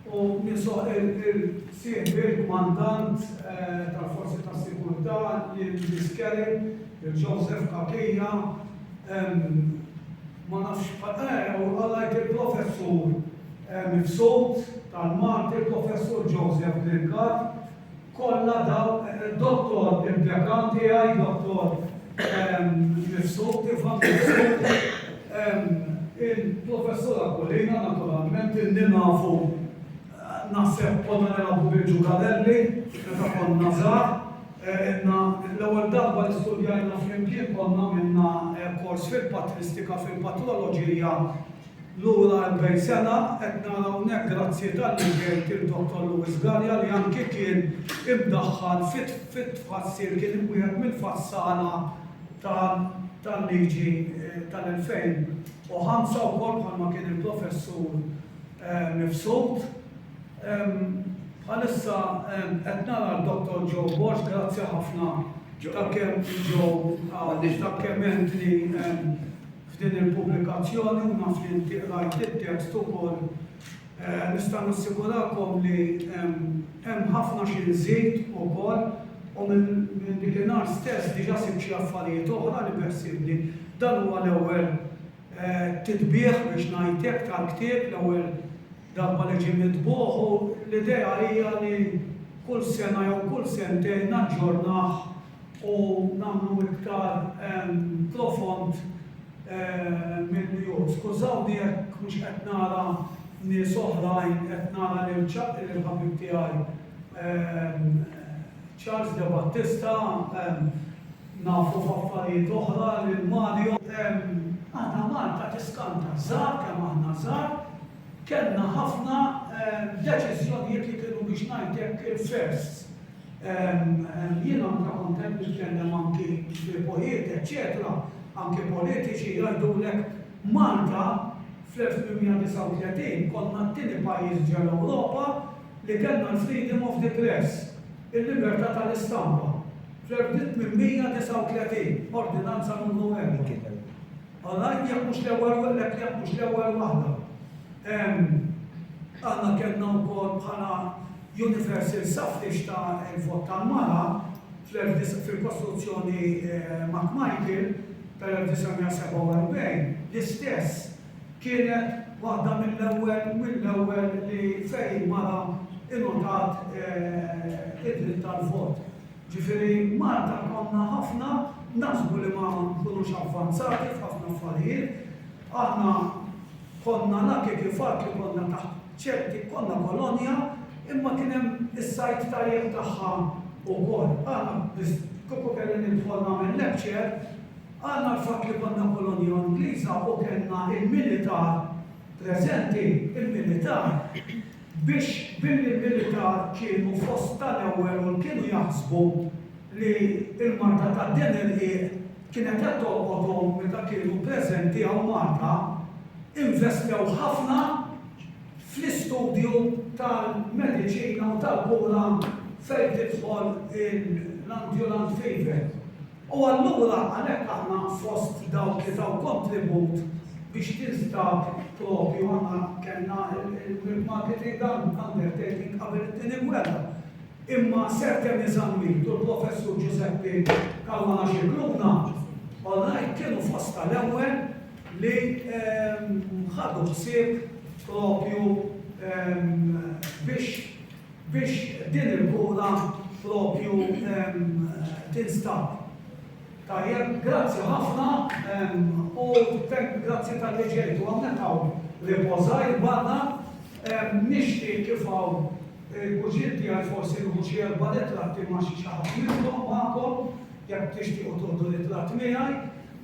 u ninsab il-sieħbi l-Kmandant tal-Forzi tas-Sigurtà, lil Miss Kelly, lil Joseph Cachia, ma nafx, u għallajt il-Professur mibsut tal-Malti, il-Professur Joseph Lingard, Kollha daw Dottor impjekati għaj Dottor mifsuti f'għand mifsuti il-Professur Aquilina naturalment illi nafu naħseb konna nilagħbu bil-ġugarelli meta konna żgħar ilna l-ewwel darba li studjajna flimkien konna għamilna kors fil-patristika fil-patroloġija Lura erbgħin sena qed nara hawnhekk grazzi talli ġejt il-Dottor Louis Galea li anki kien imdaħħal fit-tfassil kien wieħed mill-fassala tal-liġi tal-2005 wkoll bħalma kien il-Professur Mifsud. Bħalissa qed nara l-Dottor Joe Borg grazzi ħafna ta' kemm Joe ta' kemm għentni F'din il-pubblikazzjoni, u naf li inti qrajt it-tekst ukoll, nista' nassigurakom li hemm ħafna xi nżid ukoll u minn dik in-nhar stess diġà sibt xi affarijiet oħra li beħsiebni. Dan huwa l-ewwel titbiegħ biex ngħid hekk tal-ktieb, l-ewwel darba li ġie mitbugħ u l-idea hija li kull sena jew kull sentejn naġġornah u nagħmlu iktar profond milli hu. Skużawni jekk mhux qed nara nies oħrajn, qed nara lil ħabib tiegħi Charles De Battista, nafu f'affarijiet oħra lil Mario. Aħna Malta tiskanta żgħar kemm aħna żgħar, kellna ħafna deċiżjonijiet li kienu biex ngħid hekk il-firsts. Jien anke kont qed nitkellem anke f'lipojiet eċċetera, anke politiċi jgħidulek Malta fl-1839 konna t-tieni pajjiż ġol-Ewropa li kellna l-freedom of the press, il-libertà tal-istampa, fl-1839, Ordinanza Numru Erbgħa. Għal ngħid jekk mhux l-ewwel wa lek jekk mhux l-ewwel waħda. Hemm aħna kellna wkoll bħala Universal Suffrage ta' il-vot tal-mara fl-19 fil-Kostruzzjoni McMichael tal-1947 l-istess kienet waħda mill-ewwel mill-ewwel li fejn mara ingħotat id-dritt tal-vot. Ġifieri Malta konna ħafna naħsbu li ma nkunux avvanzati f'ħafna affarijiet, aħna konna lucky fil-fatt li konna taħt ċerti, konna kolonja imma kien hemm is-side tajjeb tagħha wkoll. Aħna biss kieku kelli nidħol nagħmel lecture, aħna l-fatt li konna kolonja Ingliża u kellna l-militar preżenti, il-militar, Biex billi l-militar kienu fost tal-ewwel u l-kienu jaħsbu li l-marda ta' din il-qiegħ kienet qed tolqothom meta kienu preżenti hawn Malta, investew ħafna fl-istudju tal-mediċina u tal-kura fejn tidħol l-ambulant fever. U allura għalhekk aħna fost dawk li taw kontribut biex tinstab propju aħna kellna il-milk marketing undertaking qabel it-Tieni Gwerra. Imma Sir Temmy Zammit u l-Professur Ġużeppi Caruana Scicluna, all right, kienu fost tal-ewwel li ħadu ħsieb propju biex biex din il-bula propju tinstab. Tajjeb, grazzi ħafna u thank grazzi talli ġejtu hawnhekk hawn report żgħir barra. Nixtieq kif hawn il-kuġiet tiegħi forsi nieħu xi erba' ritratti ma' xi ħadd minnkom magħkom jekk tixtiequ tieħdu ritratt miegħi.